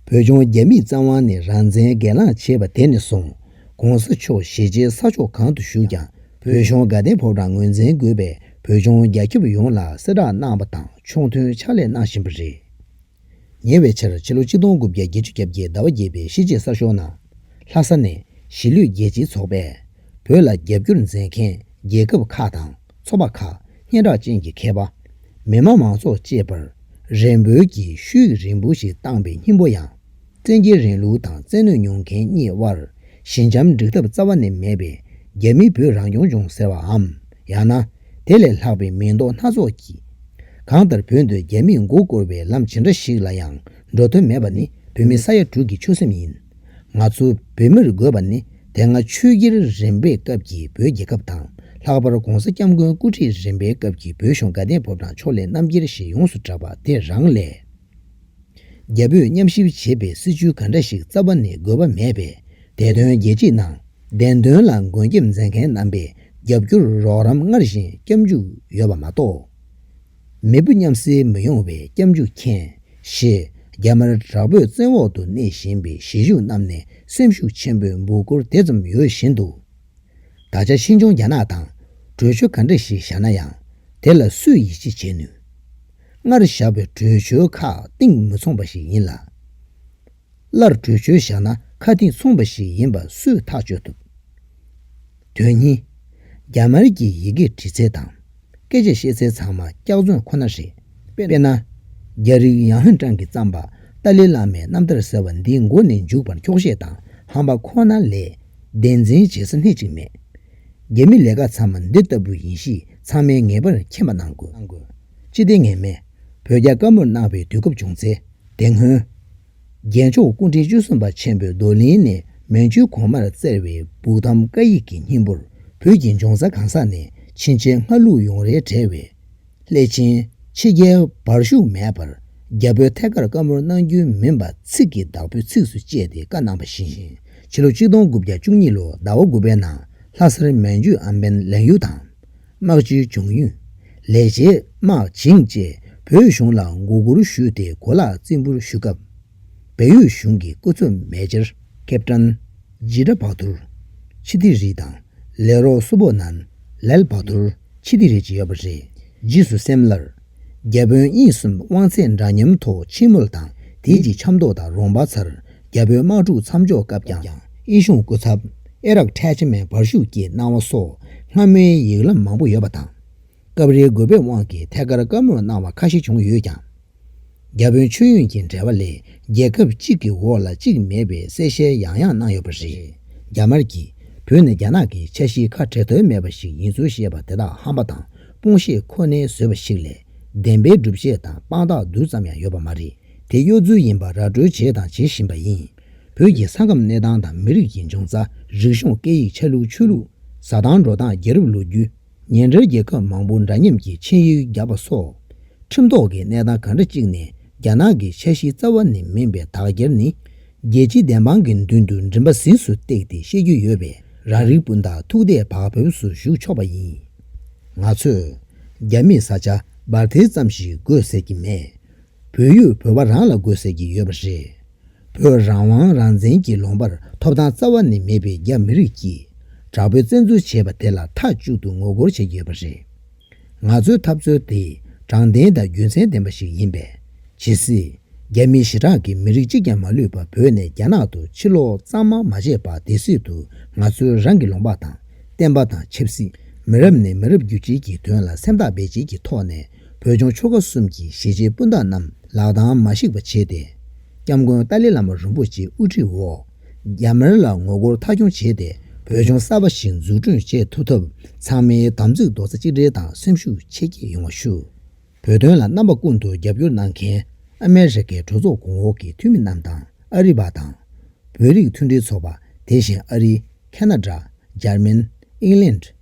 བོད་ལྗོངས་རྒྱ་མིས་རྩ་དབང་ནས་རང་བཙན་སྒེར་ལངས་བྱས་པ་དེ་ནས་བཟུང་གོང་ས་མཆོག་ཞེ་ཆེའི་ས་ཕྱོགས་གང་དུ་བཞུགས་ཀྱང་བོད་གཞུང་དགའ་ལྡན་ཕོ་བྲང་ངོས་འཛིན་དགོས་པའི་བོད་ལྗོངས་རྒྱ་ཁྱབ་ཡོངས་ལ་གསལ་བསྒྲགས་གནང་བ་དང་ཕྱོགས་མཐུན་ཕྱག་ལས་གནང་བཞིན་པ་རེད། ཉེ་བའི་ཆར་ཕྱི་ལོ་གཅིག་སྟོང་དགུ་བརྒྱ་བརྒྱད་ཅུ་གྱ་བརྒྱད་ཟླ་བ་བརྒྱད་པའི་གཞིས་བྱེས་གསར་ཤོག་ནང། ལྷ་ས་ནས་གཞིས་ལུས་རྒྱལ་སྤྱིའི་ཚོགས་པས། བོད་ལ་རྒྱ་བསྒྱུར་མཛད་མཁན་རྒྱལ་ཁབ་ཁག་དང་ཚོགས་པ་ཁག་སྙན་གྲགས་ཅན་གྱི་མཁས་པ། མི་དམངས་མང་ཚོགས་བཅས་པར། རེ་འབོད་ཀྱི་ཤུལ་རིང་པོ་ཞིག་བཏང་པའི་སྙིང་པོ་ཡང། བཙན་རྒྱལ་རིང་ལུགས་དང་བཙན་གནོད་མྱོང་མཁན་གཉིས་དབར་ཞི་འཇམ་འགྲིག་ཐབས་རྩ་བ་ནས་མེད་པས་རྒྱ་མིས་བོད་རང་སྐྱོང་ལྗོངས་ཟེར་བའམ་ཡང་ན་དེ་ལས་ལྷག་པའི་མིང་འདོགས་སྣ་ཚོགས་ཀྱིས། གང་ལྟར་བོད་འདིར་རྒྱ་མིས་མགོ་བསྐོར་བའི་ལམ་ཇི་འདྲ་ཞིག་ལ་ཡང་འགྲོ་དོན་མེད་པ་ནི་བོད་མི་ས་ཡ་དྲུག་གི་ཆོད་སེམས་ཡིན། ང་ཚོ་བོད་མིར་དགོས་པ་ནི་དེ་སྔ་ཆོས་རྒྱལ་རིམ་པའི་སྐབས་ཀྱི་བོད་རྒྱལ་ཁབ་དང་ལྷག་པར ྋགོང་ས ྋསྐྱབས་མགོན་སྐུ་ཁྲིད་རིམ་པའི་སྐབས་ཀྱི་བོད་གཞུང་དགའ་ལྡན་བབས་དང་ཕྱོགས་ལས་རྣམ་རྒྱལ་ཞེས་ཡོངས་སུ་གྲགས་པ་དེ་རང་ལས། རྒྱ་བོད་མཉམ་གཤིབ་བྱེད་པའི་སྲིད་བྱུས་ག་འདྲ་ཞིག་རྩ་བ་ནས་དགོས་པ་མེད་པས་དེ་དོན་རྒྱལ་སྤྱིའི་ནང་བདེན་དོན་ལ་མགོན་སྐྱབས་མཛད་མཁན་རྣམ་པས་རྒྱབ་སྐྱོར་རོགས་རམ་སྔར་བཞིན་སྐྱབས་འཇུག་ཡོད་པ་མ་གཏོགས། མི་བུ་མཉམ་བསྲེ་མི་ཡོང་བའི་སྐྱབས་འཇུག་མཁྱེན། ཞེས་རྒྱ་དམར་དྲག་པོས་བཙན་འོག་ཏུ་གནས་བཞིན་པའི་གཞིས་བཞུགས་རྣམས་ནས་སེམས་ཤུགས་ཆེན་པོས་འབུ་སྐོར་དེ་ཙམ་ཡོད་བཞིན་དུ། ད་ཆ་ཕྱིས་འབྱུང་རྒྱ་ནག་དང་གྲོས་ཆོད་ག་འདྲ་ཞིག་བཞག་ན་ཡང་དེ་ལ་སུས་ཡིད་ཆེས་བྱེད་ནུས། སྔར་བཞག་པའི་གྲོས་ཆོད་ཁག་གཏིང་མི་མཚུངས་པ་ཞིག་ཡིན་ལ། སླར་གྲོས་ཆོད་བཞག་ན་ཁ་གཏིང་མཚུངས་པ་ཞིག་ཡིན་པ་སུས་ཐག་གཅོད་ཐུབ། དོན་གཉིས། རྒྱ་དམར་གྱི་ཡི་གེ་འབྲི་ཚད་དང། སྐད་ཆ་བཤད་སའི་ཚང་མ་སྐྱག་རྫུན་ཁོ་ན་རེད། དཔེར་ན། རྒྱ་རིགས་ཡང་ཧན་ཀྲང་གིས་བརྩམས་པ་ཏཱ་ལི་བླ་མའི་རྣམ་ཐར་ཟེར་བ་འདི་མགོ་ནས་མཇུག་བར་འཁྱོག་བཤད་དང་ཧམ་པ་ཁོ་ན་ལས་བདེན་འཛིན་བྱེད་ས་སྣེ་གཅིག་མེད། རྒྱ་མི་ལས་ཀ་ཚང་མ་འདི་ལྟ་བུ་ཡིན་གཤིས་ཚང་མའི་ངེས་པར་མཁྱེན་པ་གནང་དགོས། ཅི་སྟེ་ངེས་མེད། བོད་རྒྱ་དཀའ་མོར་གནང་བའི་དུས་སྐབས་བྱུང་ཚེ་དེ་སྔོན། རྒྱལ་མཆོག་སྐུ་ཕྲེང་བཅུ་གསུམ་པ་ཆེན་པོའི་རྡོར་གླིང་ནས་མན་ཇུའི་གོང་མར་བསྩལ་བའི་སྦུག་ཐམ་བཀའ་ཡིག་གི་སྙིང་པོར་བོད་ཀྱི་འབྱུང་རྩ་གང་ཟག་ནས་ཕྱིན་ཆད་སྔ་ལུགས་ཡོངས་རེ་བྲལ་བའི། སླད་ཕྱིན་ཕྱི་རྒྱལ་བར་ཞུགས་མེད་པར་རྒྱ་བོད་ཐད་ཀར་བཀའ་མོལ་གནང་རྒྱུ་མིན་པ་ཚིག་གི་བདག་པོས་ཚིགས་སུ་བཅད་དེ་བཀའ་གནང་བ་བཞིན་ཕྱི་ལོ་གཅིག་སྟོང་དགུ་བརྒྱ་བཅུ་གཉིས་ལོ་ཟླ་བ་དགུ་པའི་ནང་ལྷ་སར་མན་ཇུའི་ཨམ་བན་ལན་ཡུལ་དང། དམག་སྤྱི་འབྱུང་ཡོན། ལས་བྱེད་དམག་བྱིངས་བཅས་བོད་གཞུང་ལ་མགོ་སྒུར་ཞུས་ཏེ་གོ་ལག་རྩིས་འབུལ་ཞུ་སྐབས། བལ་ཡུལ་གཞུང་གི་སྐུ་ཚབ་མེ་ཇར་ཀེབ་ཀྲན། ཇི་ཏྲ་བྷག་དུར། ཆི་ཏི་རི་དང། ལས་རོགས་སུ་པོ་ནན། ལལ་བྷག་དུར། ཆི་ཏི་རི་བཅས་ཡོད་པ་རེད། རྗེས་སུ་སེམས་སླར། རྒྱ་བོད་དབྱིན་གསུམ་དབང་ཚད་འདྲ་མཉམ་ཐོག་ཕྱི་མོལ་དང་དེའི་རྗེས་ཆབ་མདོ་དང་རོང་པ་ཚར་རྒྱ་བོད་དམག་འཁྲུག་མཚམས་འཇོག་སྐབས་ཀྱང་དབྱིན་གཞུང་སྐུ་ཚབ་ཨེ་རག་ཁྲལ་ཆེ་མའི་འབར་ཤུགས་ཀྱིས་གནང་བ་སོགས་སྔ་མོའི་ཡིག་ལམ་མང་པོ་ཡོད་པ་དང། སྐབས་རེའི་རྒོལ་བའི་དབང་གིས་ཐད་ཀར་བཀའ་མོལ་གནང་བ་ཁ་ཤས་བྱུང་ཡོད་ཀྱང། བརྒྱ་དཔོན་མཆོད་ཡོན་གྱི་འབྲེལ་བ་ལས་རྒྱལ་ཁབ་གཅིག་གི་འོག་ལ་གཅིག་མེད་པའི་གསལ་བཤད་ཡང་ཡང་གནང་ཡོད་པ་རེད། རྒྱ་དམར་གྱིས་བོད་ནི་རྒྱ་ནག་གི་ཆ་གཞིའི་ཁ་བྲལ་དོན་མེད་པ་ཞིག་ཡིན་ཚུལ་བཤད་པ་དེ་དག་ཧམ་པ་དང་སྤོང་བཤད་ཁོ་ནའི་བཟོས་པ་ཞིག་ལས་བདེན་པའི་སྒྲུབ་བྱེད་དང་དཔང་རྟགས་རྡུལ་ཙམ་ཡང་ཡོད་པ་མ་རེད་དེ་གཡོ་རྫུན་ཡིན་པ་ར་སྤྲོད་བྱས་དང་བྱེད་བཞིན་པ་ཡིན། བོད་ཀྱི་ས་ཁམས་གནས་སྟངས་དང་མི་རིགས་ཀྱི་འབྱུང་རྩ་རིག་གཞུང་སྐད་ཡིག་ཆ་ལུགས་ཆོས་ལུགས་བཟའ་སྟངས་འགྲོ་སྟངས་རྒྱལ་རབས་ལོ་རྒྱུས། ཉེ་འབྲེལ་རྒྱལ་ཁབ་མང་པོ་འདྲ་མཉམ་གྱི་ཆིངས་ཡིག་བརྒྱབ་པ་སོགས་ཁྲིམས་ཐོག་གི་གནས་སྟངས་གང་འདྲ་ཅིག་ནས་རྒྱ་ནག་གི་འཆར་གཞི་རྩ་བ་ནས་མིན་པའི་དག་རྒྱར་ནི། རྒྱལ་སྤྱིའི་བདེན་དཔང་གི་མདུན་དུ་མགྲིན་པ་གཟིངས་སུ་བཏེགས་ཏེ་བཤད་རྒྱུ་ཡོད་པས་རང་རིགས་སྤུན་ཟླ་ཐུགས་དད་བག་ཕེབས་སུ་བཞུགས་ཆོག་པ་ཡིན། ང་ཚོས་རྒྱ་མིས་ས་ཆ་སྦར་ཐེལ་ཙམ་ཞིག་དགོས་ཟེར་གྱི་མེད། བོད་ཡུལ་བོད་པ་རང་ལ་དགོས་ཟེར་གྱི་ཡོད་པ་རེད། བོད་རང་དབང་རང་བཙན་གྱི་ལོང་པར་ཐོབ་ཐང་རྩ་བ་ནས་མེད་པའི་རྒྱ་མི་རིགས་ཀྱིས་དྲག་པོའི་བཙན་འཛུལ་བྱས་པ་དེ་ལ་མཐའ་གཅིག་ཏུ་ངོ་རྒོལ་བྱེད་ཀྱི་ཡོད་པ་རེད། ང་ཚོའི་འཐབ་རྩོད་དེ་དྲང་བདེན་དང་རྒྱུ་མཚན་ལྡན་པ་ཞིག་ཡིན་པས་ཇི་སྲིད་རྒྱ་མི་ཞེ་དྲག་གིས་མི་རིགས་གཅིག་ཀྱང་མ་ལུས་པར་བོད་ནས་རྒྱ་ནག་ཏུ་ཕྱིར་ལོག་གཙང་མ་མ་བྱས་པ་དེ་སྲིད་དུ་ང་ཚོའི་རང་གི་ལོང་པ་དང་བསྟན་པ་དང་ཆབ་སྲིད་མི་རབས་ནས་མི་རབས་བརྒྱུད་བསྐྱེལ་གྱི་དོན་ལ་སེམས་ཐག་རྦད་བཅད་ཀྱི་ཐོག་ནས་བོད་ལྗོངས་ཆོལ་ཁ་གསུམ་གྱི་གཞིས་བྱེས་སྤུན་ཟླ་རྣམས་ལག་གདང་མ་ཞིག་པ་བྱས་ཏེ། སྐྱབས་མགོན་ཏཱ་ལའི་བླ་མ་རིན་པོ་ཆེའི་དབུ་ཁྲིད་འོག་རྒྱ་དམར་ལ་ངོ་རྒོལ་མཐའ་འཁྱོངས་བྱས་ཏེ་བོད་ལྗོངས་གསར་པ་ཞིག་འཛུགས་སྐྲུན་བྱེད་ཐུབ་ཐབས་ཚང་མའི་དམ་ཚིག་རྡོག་རྩ་གཅིག་སྒྲིལ་དང་སེམས་ཤུགས་ཆེ་བསྐྱེད་ཡོང་བ་ཞུ། བོད་དོན་ལ་རྣམ་པ་ཀུན་ཏུ་རྒྱབ་སྐྱོར་གནང་མཁན་ཨ་མེ་རི་ཁའི་གྲོས་ཚོགས་གོང་འོག་གི་འཐུས་མི་རྣམས་དང་ཨ་རི་བ་དང། བོད་རིགས་མཐུན་སྒྲིལ་ཚོགས་པ་དེ་བཞིན་ཨ་རི། ཁ་ན་དྲ། འཇར་མན། ཨིང་ལེནྜ།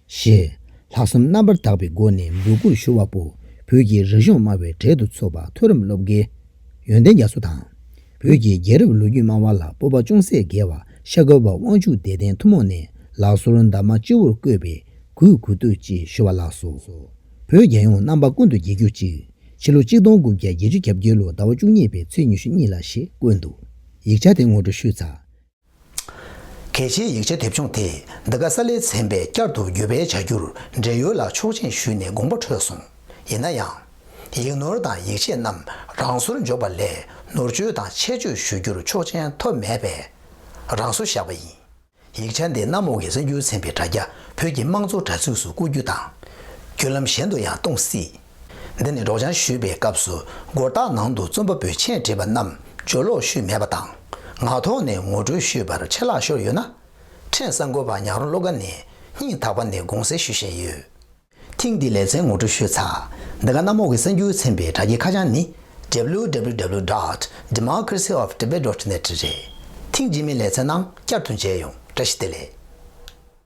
ཞེས། ལྷག་བསམ་རྣམ་པར་དག་པའི་སྒོ་ནས་འབོད་སྐུལ་ཞུ་བ་པོ་བོད་ཀྱི་རིག་གཞུང་སྨྲ་བའི་གྲལ་དུ་འཚོ་བ་མཐོ་རིམ་སློབ་དགེ། ཡོན་ཏན་རྒྱ་མཚོ་དང། བོད་ཀྱི་རྒྱལ་རབས་ལོ་རྒྱུས་སྨྲ་བ་ལ་སྤོབས་པ་ཅུང་ཟད་རྒྱས་བ་ཤ་ཁོལ་བ་དབང་ཕྱུག་བདེ་ལྡན་ཐུན་མོང་ནས་ལག་སོར་འདབ་མ་སྤྱི་བོར་བཀོད་པའི་གུས་གུས་བཏུད་ཅེས་ཞུ་བ་ལགས་སོ། བོད་རྒྱལ་ཡོངས་རྣམ་པ་ཀུན་ཏུ་རྒྱལ་གྱུར་ཅིག། ཕྱི་ལོ་གཅིག་སྟོང་དགུ་བརྒྱ་བརྒྱད་ཅུ་གྱ་བརྒྱད་ལོ་ཟླ་བ་བཅུ་གཉིས་པའི་ཚེས་ཉི་ཤུ་གཉིས་ལ་ཞེས་བཀོད་འདུག་ཡིག་ཆ་དེ་ངོ་སྤྲོད་ཞུས་ཚར། གལ་ཆེའི་ཡིག་ཆ་དེབ་ཆུང་དེ་འདི་ག་ས་ལེ་ཚན་པས་བསྐྱར་དུ་བརྒྱུད་སྤེལ་བྱ་རྒྱུར་འབྲེལ་ཡོད་ལ་ཆོག་མཆན་ཞུས་ནས་དགོངས་པ་འཕྲོད་སོང། ཡིན་ན་ཡང། ཡིག་ནོར་དང་ཡིག་ཆས་རྣམས་རང་སོར་འཇོག་པ་ལས་ནོར་བཅོས་དང་ཆད་གཅོད་ཞུ་རྒྱུར་ཆོག་མཆན་ཐོབ་མེད་པས་རང་སོར་བཞག་པ་ཡིན། ཡིག་ཆ་འདི་གནམ་འོག་གི་གསར་འགྱུར་ཚན་པའི་དྲ་རྒྱ་བོད་ཀྱི་དམངས་གཙོ་དྲ་ཚིགས་སུ་བཀོད་རྒྱུ་དང། བརྒྱུད་ལམ་གཞན་དུ་ཡང་གཏོང་སྲིད། འདི་ནི་སྒྲོག་སྦྱང་ཞུས་པའི་སྐབས་སུ་སྒོ་རྟགས་ནང་དུ་རྩོམ་པ་པོས་མཆན་བྲིས་པ་རྣམས་བརྗོད་ཀློག་ཞུས་མེད་པ་དང། ངག་ཐོག་ནས་ངོ་སྤྲོད་ཞུས་པར་ཆད་ལྷག་ཤོར་ཡོད་ན། ཕྲན་གསར་འགོད་པ་ཉག་རོང་སློབ་ཁ་ནས་སྙིང་ཐག་པ་ནས་དགོངས་སེལ་ཞུ་བཞིན་ཡོད། ཐེངས་འདིའི་ལེ་ཚན་ངོ་སྤྲོད་ཞུས་ཚགས་འདི་ག་གནམ་འོག་གི་གསར་འགྱུར་ཚན་པའི་དྲ་རྒྱའི་ཁ་བྱང་ནི www dot democracy of tibet dot net རེད། ཐེངས་རྗེས་མའི་ལེ་ཚན་ནང་བསྐྱར་དུ་མཇལ་ཡོང་བཀྲ་ཤིས་བདེ་ལེགས།